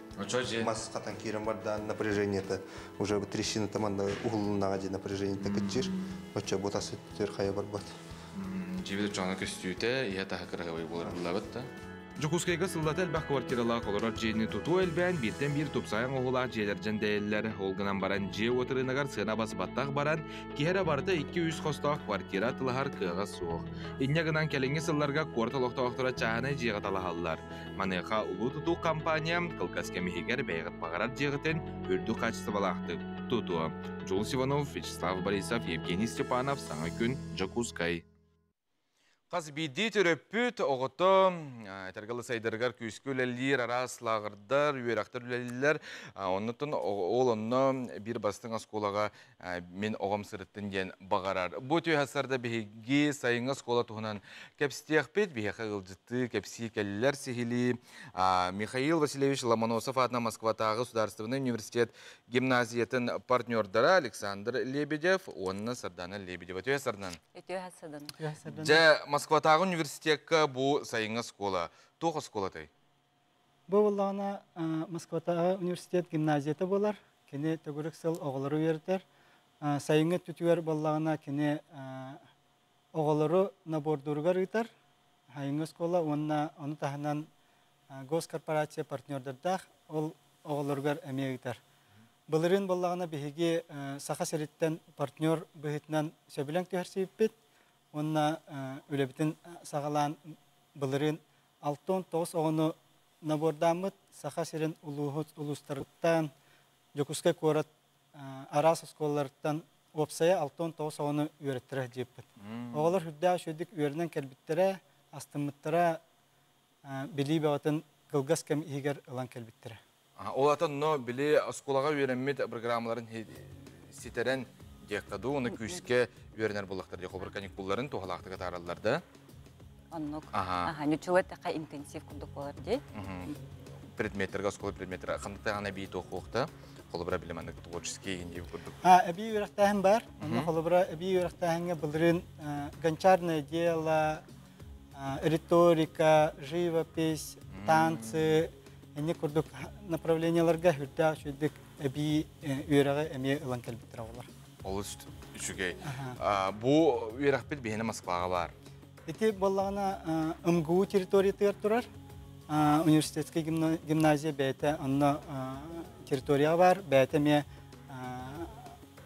маскатан киирэн бардаан напряжениета уже бы трещина там анда уһуллуннаҕа дии напряжениета кыччир оччо бу тас өттүгэр хайа барбат дьибит дьоно көстүүтэ иһэ таһа кыраһабай буларыллабыт да Дьокуускайга сыллата элбэх квартиралаах олорор дьиэни тутуу элбээн бииртэн биир тупсаайан оһуулаах дьиэлэрдэн дэйэллэр. Ол гынан баран дьиэ уот ырыынагар сыана басбаттах баран, киһи эрэ барыта 200 хостоох квартира атылаһар кыаҕа суох. Инньэ гынан кэлиҥҥи сылларга куорат олохтоохторо чааһынай дьиэҕэ талаһаллар. Маныаха улуу тутуу компания кылгас кэм иһигэр бэйэҕит баҕарар дьиэҕитин үрдүк хаачыстыбалаахтык тутуо. Джулс Иванов, Вячеслав Борисов, Евгений Степанов, саҥа күн, Дьокуускай. Хас биирдии төрөппүт оҕото этэргэ сайдарыгар күүскэ үлэлиир, араас лааҕырдар, үөрэхтэр үлэлииллэр. Оннуттан ол онно биир бастыҥ оскуолаҕа мин оҕом сырыттын диэн баҕарар. Бу түһэсэрдэ биһиги сайыҥҥы оскуола туһунан кэпсиэхпит. Биһиэхэ ыалдьыттыы кэпсии кэллилэр сиһилии. Михаил Васильевич Ломоносов аатынан Москватааҕы судаарыстыбаннай университет гимназиятын партнердара Александр Лебедев уонна Сардаана Лебедева. Түһэсэрдэн. Дьэ, Москватааҕы университекка бу сайыҥҥы оскуола туох оскуола тай? Бу буоллаҕына Москватааҕы университет гимназията буолар. Кини төгүрүк сыл оҕолору үөрэтэр. Сайыҥҥы өттүтүгэр буоллаҕына кини оҕолору набордууругар ыытар. Айыҥҥы оскуола уонна ону таһынан госкорпорация партнердардаах ол оҕолоругар эмиэ ыытар. Былырыын буоллаҕына биһиги Саха сириттэн партнер быһыытынан сөбүлэҥ түһэрсибиппит уонна үлэбитин саҕалаан былырыын Алтон тоҕус оҕону набордааммыт Саха сирин улууһут улуустарыттан, Дьокуускай куорат араас оскуолаларыттан уопсайа Алтон тоҕус оҕону үөрэттэрэ диэппит. Оҕолор үрдээх үчүгэйдик үөрэнэн кэлбиттэрэ, астыммыттара, билии бөҕөтүн кылгас кэм иһигэр ылан кэлбиттэрэ. Ол атын, но били оскуолаҕа үөрэммит программаларын ситэрэн диэххэ дуу, уонна күүскэ үөрэнэр буоллахтар диэх обыр каникулларын туһалаахтык атаараллар да. Оннук. Аха, ничего такая интенсив курдук болар дии. Предметтэрге оскуола предметтері хантаҕана бии тоқуохта холобура билим аннык творческий индив курдук. А эби үрэхтээһин бар. Онно холобура эби үрэхтээһиҥҥэ былырын гончарное дело риторика, живопись, танцы инник курдук направленияларга үрдээх үчүгдүк эбии үөрэҕи эмиэ ылан кэлбиттэрэ болар. Олус үчүгэй. Бу үөрэхпит биһиэнэ Москваҕа баар. Ити боллаҕына МГУ территориятыгар турар университетскай гимназия бэйэтэ онно территорияҕа баар, бэйэтэ эмиэ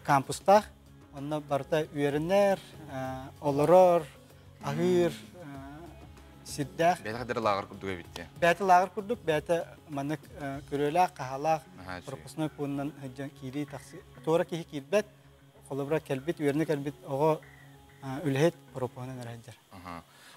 кампустаах. Онно барыта үөрэнэр, олорор, аһыыр сирдээх бэйэтэ хайдары лааҕыр курдук эбит диэн бэйэтэ лааҕыр курдук бэйэтэ маннык көрүөлээх хаһаалаах пропускной пуунунан сылдьан киирии тахсы туора киһи киирбэт холобура кэлбит үөрэнэ кэлбит оҕо үлэһит пропуһунан эрэ сылдьар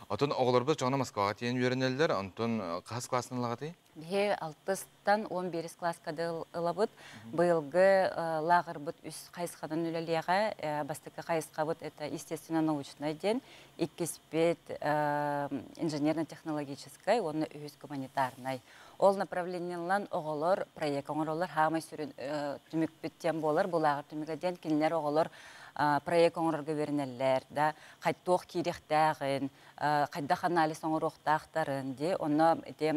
оттон оҕолорбут чоҕуна москваҕа тиийэн үөрэнэллэр онтон хаһыс класстан ылаҕытый Биһи алтыстан он биирис класска да ылабыт. Быйылгы лааҕырбыт үс хайысханан үлэлиэҕэ. Бастакы хайысхабыт это естественно-научнай диэн, иккиспит инженерно-технологическай уонна үһүс гуманитарнай. Ол направлениелан оҕолор проект оҥороллор хаамай сүрүн түмүкпүт диэн буолар бу лааҕыр түмүгэ диэн кинилэр оҕолор проект оҥорорго үөрэнэллэр да хайтуох киириэхтээҕин хайдах анализ оҥоруохтаахтарын, дии. Онно ити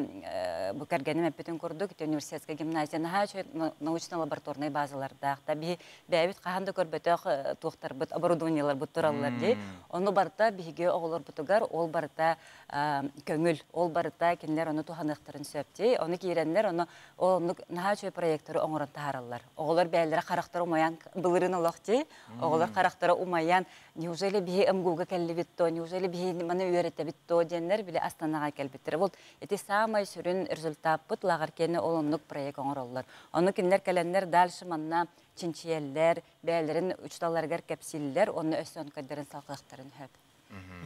бу кэргэним эппитин курдук, ити университетскай гимназия наһаа үчүгэй научно-лабораторнай базалардаах. Да биһи бэйэбит хаһан да көрбөтөх туохтарбыт оборудованиеларбыт тураллар дии. Ону барыта биһиги оҕолорбутугар ол барыта көҥүл, ол барыта кинилэр ону туһаныахтарын сөп дии. Ону киирэннэр ону оннук наһаа үчүгэй проекторы оҥорон таһаараллар. Оҕолор бэйэлэрэ харахтара умайан былырын олох дии. Оҕолор харахтара умайан неужели биһи МГУ-га кэллибит то, неужели биһи маны үөрэтэбит то диэннэр били Астанаҕа кэлбиттэрэ. Бу ити саамай сүрүн результаппыт лааҕыр киэни ол оннук проект оҥороллор. Ону кинилэр кэлэннэр дальше манна чинчийэллэр, бэйэлэрин учууталларыгар кэпсииллэр, онно өссө онкойдарын салҕыахтарын сөп.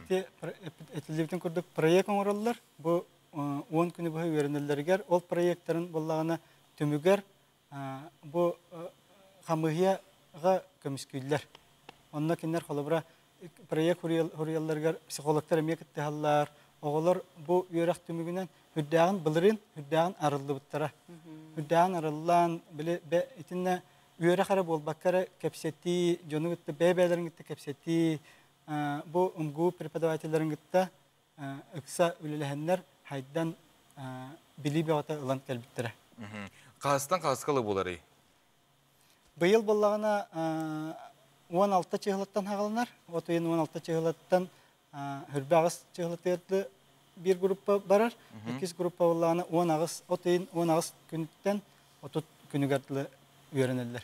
Ити этиллибитин курдук проект оҥороллор. Бу э, он күнү быһа үөрэнэллэригэр ол проектарын буоллаҕына түмүгэр Бу хамыыһыйаҕа көмүскүүллэр. Онно кинилэр холобура проект суруйалларыгар психологтар эмиэ кыттыһаллар. Оҕолор бу үөрэх түмүгүнэн үрдээҕин былырыын үрдээҕин арыллыбыттара. Үрдээҕин арыллаан били итиннэ үөрэх эрэ буолбакка эрэ кэпсэтии, дьону кытта бэйэ-бэйэлэрин кытта кэпсэтии, бу МГУ преподавателлэрин кытта ыкса үлэлэһэннэр хайдан билии бөҕөтө ылан кэлбиттэрэ. Хаастан хааска ылы буоларый? Быйыл буллаҕына уон алта чыһылаттан хаҕылынар. От ыйын уон алта чыһылаттан үрбэҕис чыһылатыырды биир группа барар, иккис группа буллаҕына уон аҕыс от ыйын уон аҕыс күнүттэн отут күнүгэр дылы үөрэнэллэр.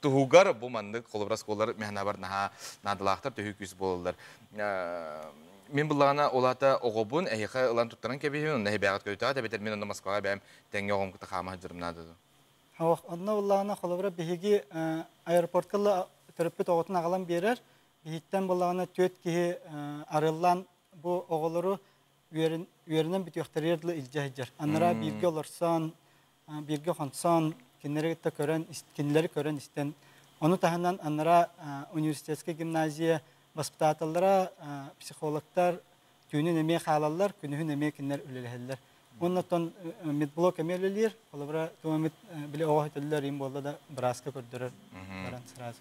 туһугар бу маннык холобура оскуолалар механабар наһаа наадалаахтар төһүү күүс буолаллар мин былаана ол аата оҕобун эһиэхэ ылан туттаран кэбиһиин онно эһибээҕит көйтөҕө тэбэтэр мин онно москваҕа бэйэм тэҥҥэ оҕомкута хаама сылдьарым наада дуо Ох, онно былаана холобура биһиги аэропортка төрөппүт оҕотун аҕалан биэрэр биһиттэн былаана түөрт киһи арыллан бу оҕолору үөрэн үөрэнэн бүтүөхтэригэр дылы илдьэ сылдьар. Анараа бииргэ олорсон, бииргэ хонсон, кинилэри кытта көрөн, кинилэри көрөн истэн, ону таһынан анараа университетскай гимназия воспитателлара, психологтар түүнүн эмиэ хаалаллар, күнүһүн эмиэ кинилэр үлэлэһэллэр. Уонна оттон медблок эмиэ үлэлиир, холобура, туох эмит били оҕо сөтөллөр им буолла да бырааска көрдөрөр баран сразу.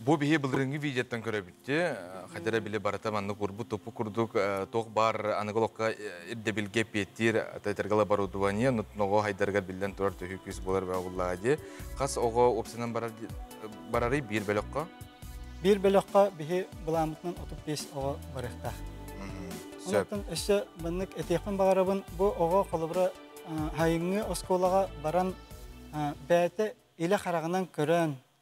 Бу биһи былырыыҥҥы видеоттан көрөбүттүү, хотя эрэ били барыта маннык урбут тупу курдук туох баар аныгы олоххо ирдэбилгэ эппиэттиир тэтэрgal оборудование ноҕо хайдарыгар биллэн турар төһүү күүс буолар бөҕүллааҕа дии. Хас оҕо уопсанан барарый биир бөлөххө? Биир бөлөххө биһи былаамытынан 35 оҕо барыахтаах. Онон өссө маннык этиэхпин баҕарабын бу оҕо холобура хайыҥҥы оскуолаҕа баран бэйэтэ илэ хараҕынан көрөн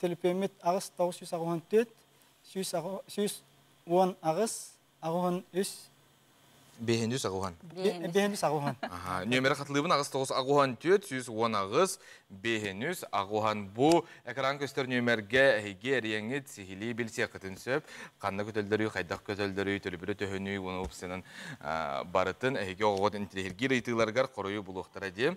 төлөпүөммүт аҕыс тоҕус сүүс аҕыс уон төрт сүүс уон аҕыс аҕыс уон үс бэһин үс аҕыс уон бэһин үс аҕыс уон нүөмэрэ хатылыыбын аҕыс тоҕус аҕыс уон төрт сүүс уон аҕыс бэһин үс аҕыс уон бу экран көстөр нүөмэргэ эһиги эриэҥҥит сиһилии билсиэххитин сөп ханна көтөлдөрүй хайдах көтөлдөрүй төлөбүрэ төһөнүй уонна упсанан барытын эһиги оҕоҕут интириэһиргиир ыйытыыларыгар хоруйу булуохтара дии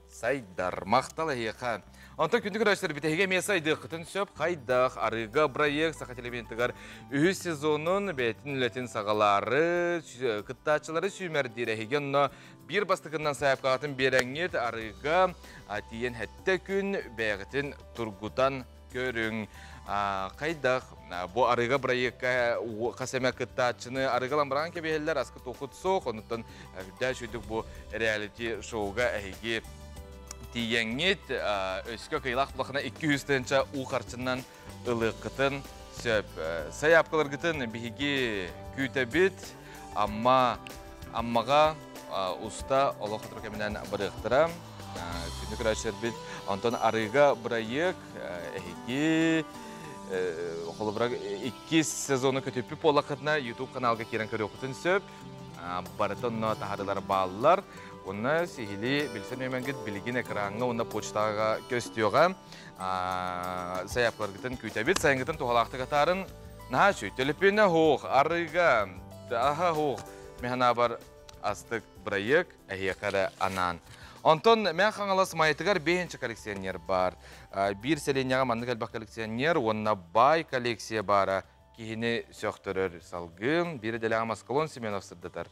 Сайдар, махтал эһиэхэ. Онтон күндү көрөөччүлэр бүтэһигэ эмиэ сайдыаххытын сөп. Хайдах арыга проект Саха телевидениятыгар үһүс сезонун бэйэтин үлэтин саҕалаары сүү- кыттааччылары сүүмэрдиир эһиги онно биир бастакынан сайаапкаҕытын биэрэҥҥит арыга а, тиийэн хэттэ күн бэйэҕитин тургутан Көрүҥ, хайдах бу арыга бырайыакка хас эмэ кыттааччыны арыгалан быраҕан кэбиһэллэр аска туохут суох онуттан үрдээх үрдүк бу реалити шоуга эһиги тиийэҥҥит өскө кыйылах улахана икки үс тыһынча уу харчынан ылыаххытын сөп сайаапкаларгытын биһиги күүтэбит Амма, Аммаҕа уста олох ытыры кэминэн барыахтара. Күнү көрөөччүлэрбит онтон арыыга бырайыак эһиги холобура иккис сезону көтүппүт буоллаххытына YouTube каналга киирэн көрүөххүтүн сөп. Барыта онно таһарылар бааллар. Уонна сиһилии билсэн үөмэнгит билигин экраҥҥа уонна почтаҕа көстүөҕэ. Сайаапкаларгытын күүтэбит, сайынгытын туһалаахтык атаарын. Наһачу, төлөпүөнэ оһох, арыга, аха оһох, механабар астык бырайыак эһиэхэ эрэ анаан. Онтон Мэх Хаҥалас Майытыгар бэһинчэ коллекционер бар. Биир сэлиэнньэҕэ маннык элбэх коллекционер уонна баай коллекция баара киһини сөхтөрөр салгын. Биир идэлээҕэ Москолон Семенов сырдатар.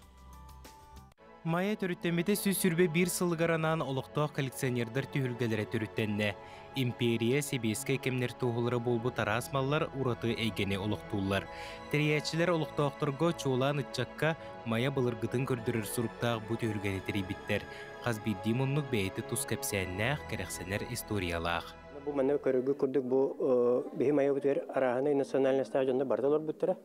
Майа төрүттэммитэ сүүс сүүрбэ биир сылыгар анаан олохтоох коллекционердар түһүлгэлэрэ төрүттэннэ. Империя сэбиэскэй кэмнэр туоһулара буолбут араас маллар ураты эйгэни олохтууллар. Тэрийээччилэр олохтоохторго, чуолаан ыччакка, Майа былыргытын көрдөрөр суруктаах бу түһүлгэни тэрийбиттэр. Хас биирдии муннук бэйэтэ тус кэпсээннээх, кэрэхсэнэр историялаах. Бу манна көрөргө курдук бу биһи майабытыгар арааһынай национальностаах дьоннор барыта олорбуттара.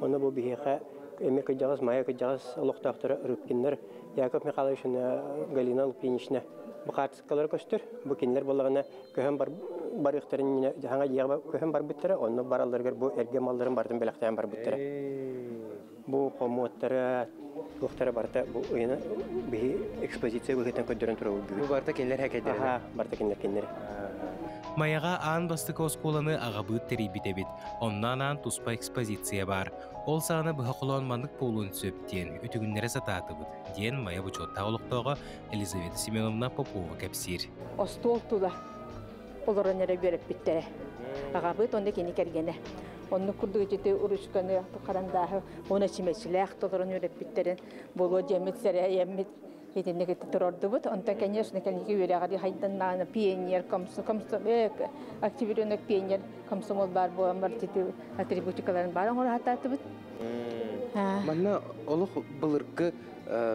Онно бу биһиэхэ эмиэ кырдьаҕас, Майа кырдьаҕас олохтоохторо Рыбкиннар Яков Михайловична, Галина Лупинична бу хаартыскалары көстөр. Бу кинилэр буоллаҕына көһөн барыахтарын хаҥа дьиэҕэ көһөн барбыттара, онно баралларыгар бу эргэ малларын барытын бэлэхтээн барбыттара. Бу хомуоттара, туохтара барыта бу ыйына биһи экспозиция быһыытынан көрдөрөн турабыт бүгүн. Бу барыта кинилэр хакейдэрэ. Аха, барыта кинилэр кинилэри. Майаҕа аан бастакы оскуоланы аҕабыыт тэрийбит эбит. Онно анаан туспа экспозиция баар. Ол саҕана быһа холоон маннык буолуон сөп диэн үтүгүннэрэ сатаатыбыт, диэн Майа бочуоттаах олохтооҕо Елизавета Семеновна Попова кэпсиир. Остуол тула олорон эрэ үөрэппиттэрэ. Аҕабыт онно кини кэргэнэ. Оннук курдук ити уручканы харандааһы уона чүмэчилээх толорон үөрэппиттэрин буолуо диэммит сэрэйэммит итинник ити турордубут. Онтон, конечно, кэнники үөрэҕэр хайданнаан пионер, комсо, комсо, активиренок пионер комсомол баар буолан бар ити атрибутикаларын баар оҥоратаатыбыт. Манна олох былыргы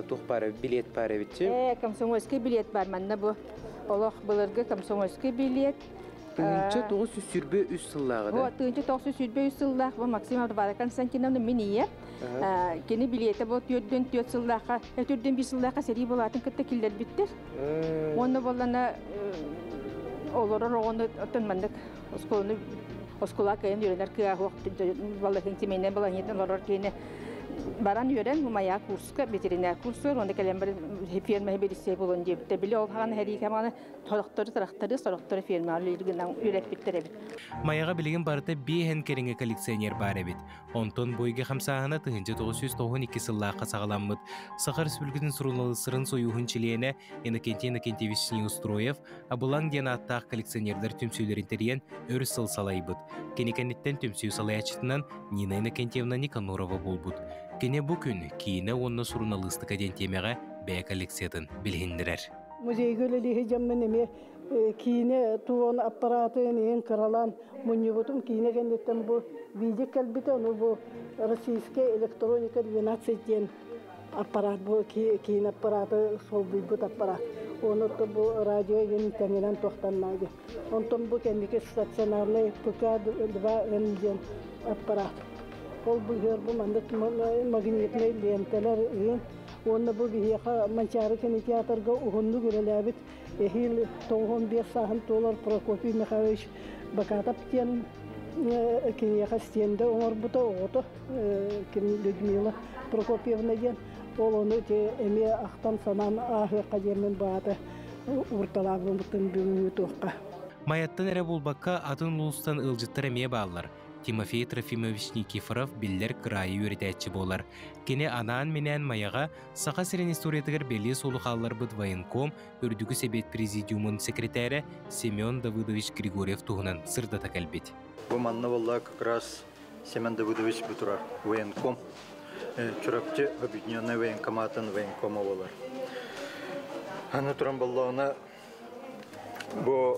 туох баар билет баар эбит. Э, комсомольский билет бар манна бу Олох былыргы комсомольский билет. Тыһыынча тоҕус жүз сүүрбэ үс сыллааҕы да? Бу тыынча тоҕус жүз сүүрбэ үс сыллаах бу Максим Абарбаева Константиновна мин ийэ. Кини билиэтэ бу түөртүн түөрт сыллаахха, төрдүн биир сыллаахха сэрии буолаатын кытта киллэрбиттэр. Уонна буоллана олорор оҕону оттон маннык оскуоланы оскуола кыайан үөрэнэр кыаһуох балаһын семейнай балаһынньытын олорор киһини баран үөрэн умайаа курс ветеринаркурсуор уонна кэлэн баран ферма бирисей болон диэбитэ били ол хаҕан хэриикэманы торохтору тракторы сорохтору фермаҕа үлэлигинэн үрэппиттэр эбит майаҕа билигин барыта биэһэн кэриҥэ коллекционер баар эбит онтон бу ыйга хамсааһына тыһыынча тоҕус жүз тоҕуһун икки сыллаахха саҕаламмыт саха республикатын суруналыыстарын сойууһун чилиэнэ иннокентий иннокентьевич устроев Абылаҥ диэн ааттаах коллекционердар түмсүүлэрин тэрийэн өр сыл салайбыт. Кини кэнниттэн түмсүү салайааччытынан Нина Иннокентьевна Никанорова буолбут. Кини бу күн киинэ уонна суруналыыстыка диэн тиэмэҕэ бэйэ коллекциятын билиһиннэрэр. Музейга үлэлиһи жаммын эме киинэ туон аппаратын иһин кыралан мунньубутум киинэ кэнниттэн бу видео кэлбитэ ну бу российская электроника 12 диэн аппарат бу киин аппараты солбуйбут аппарат оны орто бу радио иһин тэҥинэн туохтанна дии онтон бу кэнники стационарный пк два н диэн аппарат ол быһыар бу маннык магнитнай ленталар ыын уонна бу биһиэхэ манчаары кинотеатрга уһуннук үлэлээбит эһиил тоҕуһун биэс сааһын туолар Прокопий Михайлович Бакатов диэн киниэхэ стенда оҥорбута оҕото кини Людмила Прокопьевна диэн ол ону эмиэ ахтан санаан ааһыахха диэммин баата уурталаабыммытын бүгүҥҥү туохха Майаттан эрэ буолбакка атын улуустан ыалдьыттар эмиэ бааллар Тимофей Трофимович Никифоров биллэр кыраайы үөрэтээччи буолар. Кини анаан-минээн Майаҕа Саха сирин историятыгар бэлиэ суолу хаалларбыт военком, Үрдүкү Сэбиэт Президиумун секретэрэ Семен Давыдович Григорьев туһунан сырдата кэлбит. Бу манна буолла как раз Семен Давыдович бу турар военком, Чурапчы объединенный военкоматын военкома болар. Аны туран боллоона бу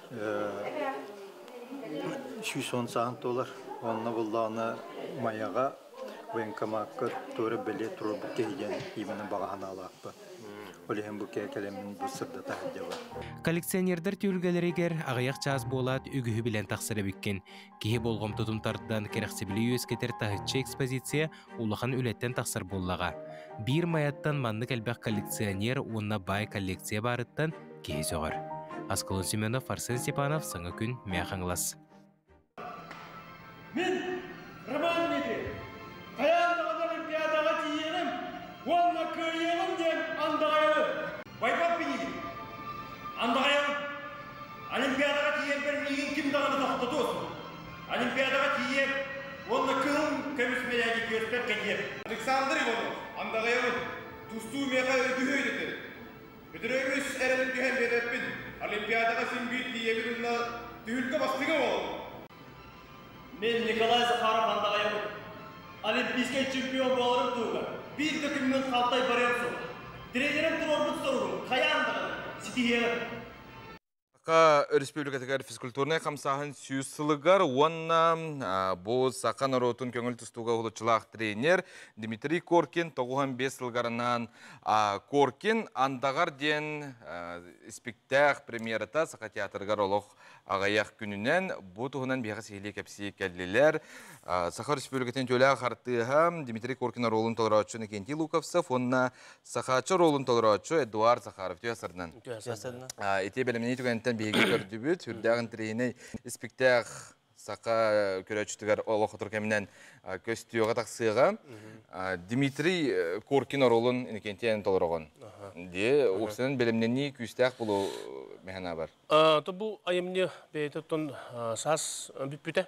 сүүс уон саан туолар онно буллаҕына майаҕа военкомакка туора бэлиэ туруорбут киһигэн именно баҕаһан аалааппын ол иһин бу кэлэмин бу сырдата сылдьабын коллекционердар түөлгэлэригэр аҕыйах чаас буолаат үгүһү билэн тахсар эбиккин Киһи болҕомтотун тардан кэрэхсэбили үөскэтэр таһыччы экспозиция улахан үлэттэн тахсар буоллаҕа. Биир Майаттан маннык элбэх коллекционер уонна бай коллекция баарыттан киһи сөҕөр. Аскалон Семенов, Арсен Степанов, саңа күн Мяхаңлас. Мен романники таяндаҕын олимпиадаға тиийэрим уонна кыайыаҕым диэн андағайалы байпап билиим андағайалым Олимпиадаҕа тиийэрбэр миигин ким даҕаны тохтотуо суох. Олимпиадаҕа тиийиэм уонна кыһыл көмүс мэлээги түөртэр кэлиэм. Александр Иванов, андаҕайабын. Тустуу миэхэ үгүһү үдэтэр. Бөтөрө үс эрэлин түһэн биэрбэппин. Олимпиадаҕа син биир тиийэбин уонна түһүлгэ бастыҥа буолабын. Мин Николай Захаров андаҕайабын. Олимпийскай чемпион буоларым туһугар биир да күммүн халтай барыам суох. Тренерим туруорбут соругум хайаан даҕаны ситиһиэм. Саха Өрөспүүбүлүкэтигэр физкультурнай хамсааһын сүүс сылыгар уонна бу саха норуотун көҥүл тустууга уһулуччулаах тренер Дмитрий Коркин тоҕуһан биэс сылларынан Коркин Андаҕар диэн испиктээк премьерата Саха театрыгар олох аҕыйах күнүнэн бу туһунан биһиэхэ сиһилии кэпсии кэллилэр Саха Өрөспүүбүлүкэтин дьүүлээх артыыһа Дмитрий Коркин оруолун толорооччу Иннокентий Луковцев уонна Сахаачча оруолун толорооччу Эдуард Захаров түһэ Ити бэлэмнии түгэнтэн биһиги көрдүбүт. Үрдээх интриһинэй испиктээх саха көрөөччүтүгэр олох отур кэминэн көстүөҕэ тахсыаҕа. Дмитрий Коркин оруолун Иннокентиэн толороҕун. Дии, уксунан бэлэмнэнии күүстээх болу механа бар. Бу айымньы бэйэтиттэн саас бүппүтэ.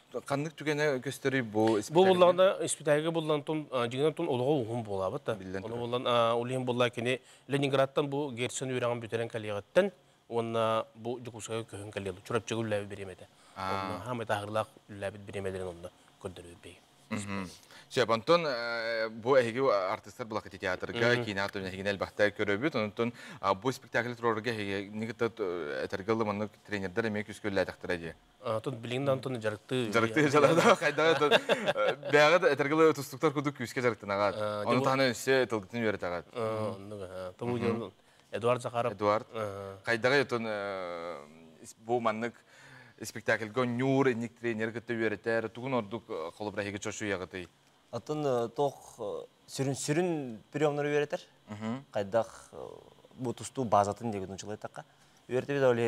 Ханнык түгэнэ көстөрүй бу Бу буллаҕына испитээһигэ буллан тун дьиҥинэн тун олоҕо уһун буолаабыта. Биллэн Ону буллан улиһин булла кини Ленинградтан бу Герцен үөрэҕин бүтэрэн кэлиэҕиттэн уонна бу Дьокуускайга көһөн кэлиэ Чурапчыга үллээбит бириэмэтэ. Онно хаамай таһырылаах үллээбит бириэмэлэрин онно көрдөрүөр Сөп, Антон, бу эһиги артыстар былакы театрга, кинотеатрга эһигини элбэхтэ көрөбүт. Онтон бу спектакль турарга эһиги кытта этэргэ ылы маннык тренердер эмиэ күскүллээтэхтэрэ дии. Атын билигин да антон дьарыктыы. Дьарыктыы дьарыктаа хайдах бэҕэ да этергеле тустуктар кудук күүскэ дьарыктынаҕат. Ону таһынан өссө тылгытын үөрэтаҕат. Оннуга. Тому Эдуард Захаров. Эдуард. Хайдаҕа ютун бу маннык спектакльга ньуур инник тренер кытта үөрэтэр тугун ордук холобрайыгы чочуяғытый атын тох сүрүн сүрүн приемнары үөрэтер хайдах бу тустуу базатын дегутун жылайтаққа үөртебит оле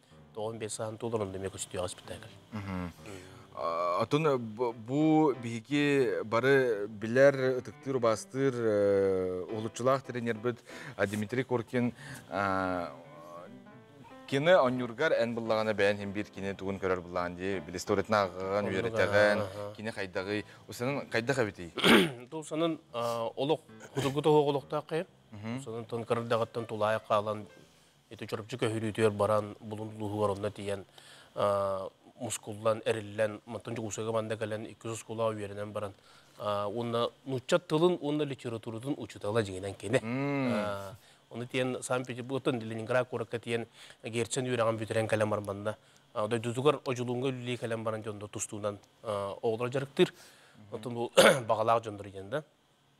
тоҕон биэс саһан туолар онда эмиэ көстүөҕэ спектакль атын бу биһиги бары билэр ытыктыыр убастыыр уһулуччулаах тренербит дмитрий куркин кини онньургар эн быллаҕана бэйэн һин биир кини тугун көрөр быллаан дии били историятын ааҕыгын үөрэтэҕин кини хайдаҕый усанын хайдах эбитий тул санын олох кутургу тоһоҕ олохтаах кайы санын тон кырдаҕыттан тулаайах хаалан Ити чурапчы көһүрүүтүгэр баран булун улууһугар онно тиийэн мускуллан, эриллэн, мантан Дьокуускайга манна кэлэн иккис оскуолаҕа үөрэнэн баран уонна нуучча тылын уонна литературатын учуутала дьиҥинэн кини. Ону тиийэн Санкт-Петербургтан Ленинград куоракка тиийэн Герцен үөрэҕин бүтэрэн кэлэн баран манна дойдутугар Одьулуунга үлэлии кэлэн баран дьонно тустуунан оҕолоро дьарыктыыр. Оттон бу баҕалаах дьоннор диэн да.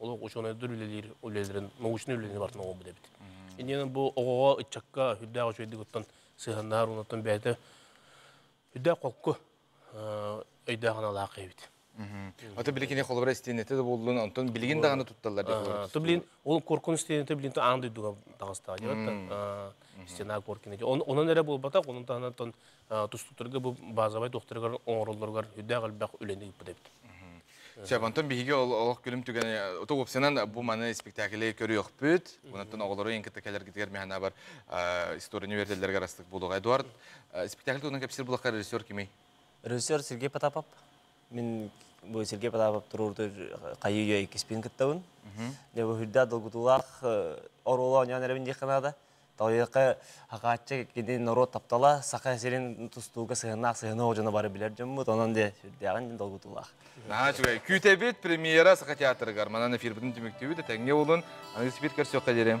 олох учуонайдар үлэлиир үлэлэрин научнай үлэни бартан оҥорбут эбит. Иннинэ бу оҕоҕо ыччакка үрдээх үчүгэйдик оттон сыһаннаһар уонна бэйэтэ үрдээх холку өйдөөх аналаах эбит. Ото били кини холобура истиэнэтэ да буллун, онтон билигин даҕаны тутталлар диэх То блин, ол коркун истиэнэтэ блин то андый дуга тагыста. Диэбэтэ стена коркина. Онон эрэ буолбатах, онон таһынан тустуктарга бу базовай докторыгар оҥороллоругар үрдээх элбэх үлэни ыыппыт эбит. Сөп, онтон биһиги олох күлүм түгэнэ ото уопсанан бу маны спектаклі көрүөхпүт. Унаттан оҕолору ең кытта кэлэргитигэр механабар история университетлерге растык булук. Эдуард, спектакль туһунан кепсир булахка режиссер кими? Режиссер Сергей Потапов. Мен бу Сергей Потапов туруурду кайы үйө иккиспин кыттабын. Де бу хүрда долгутуулаах оруолу оньоон эребин диэхканада. Тоойуока Хакааччы кини норуот таптала Саха сирин тустууга сыһыаннаах сыһыанах дьоно бары билэр дьоммут онон де сүрдээҕин долгутуулаах. Наһаа үчүгэй. Күүтэбит премьера Саха театрыгар. Манан эфирбытын түмүктүүбүт, этэҥҥэ буолун. Аныгы спирт көрсүөххэ диэри.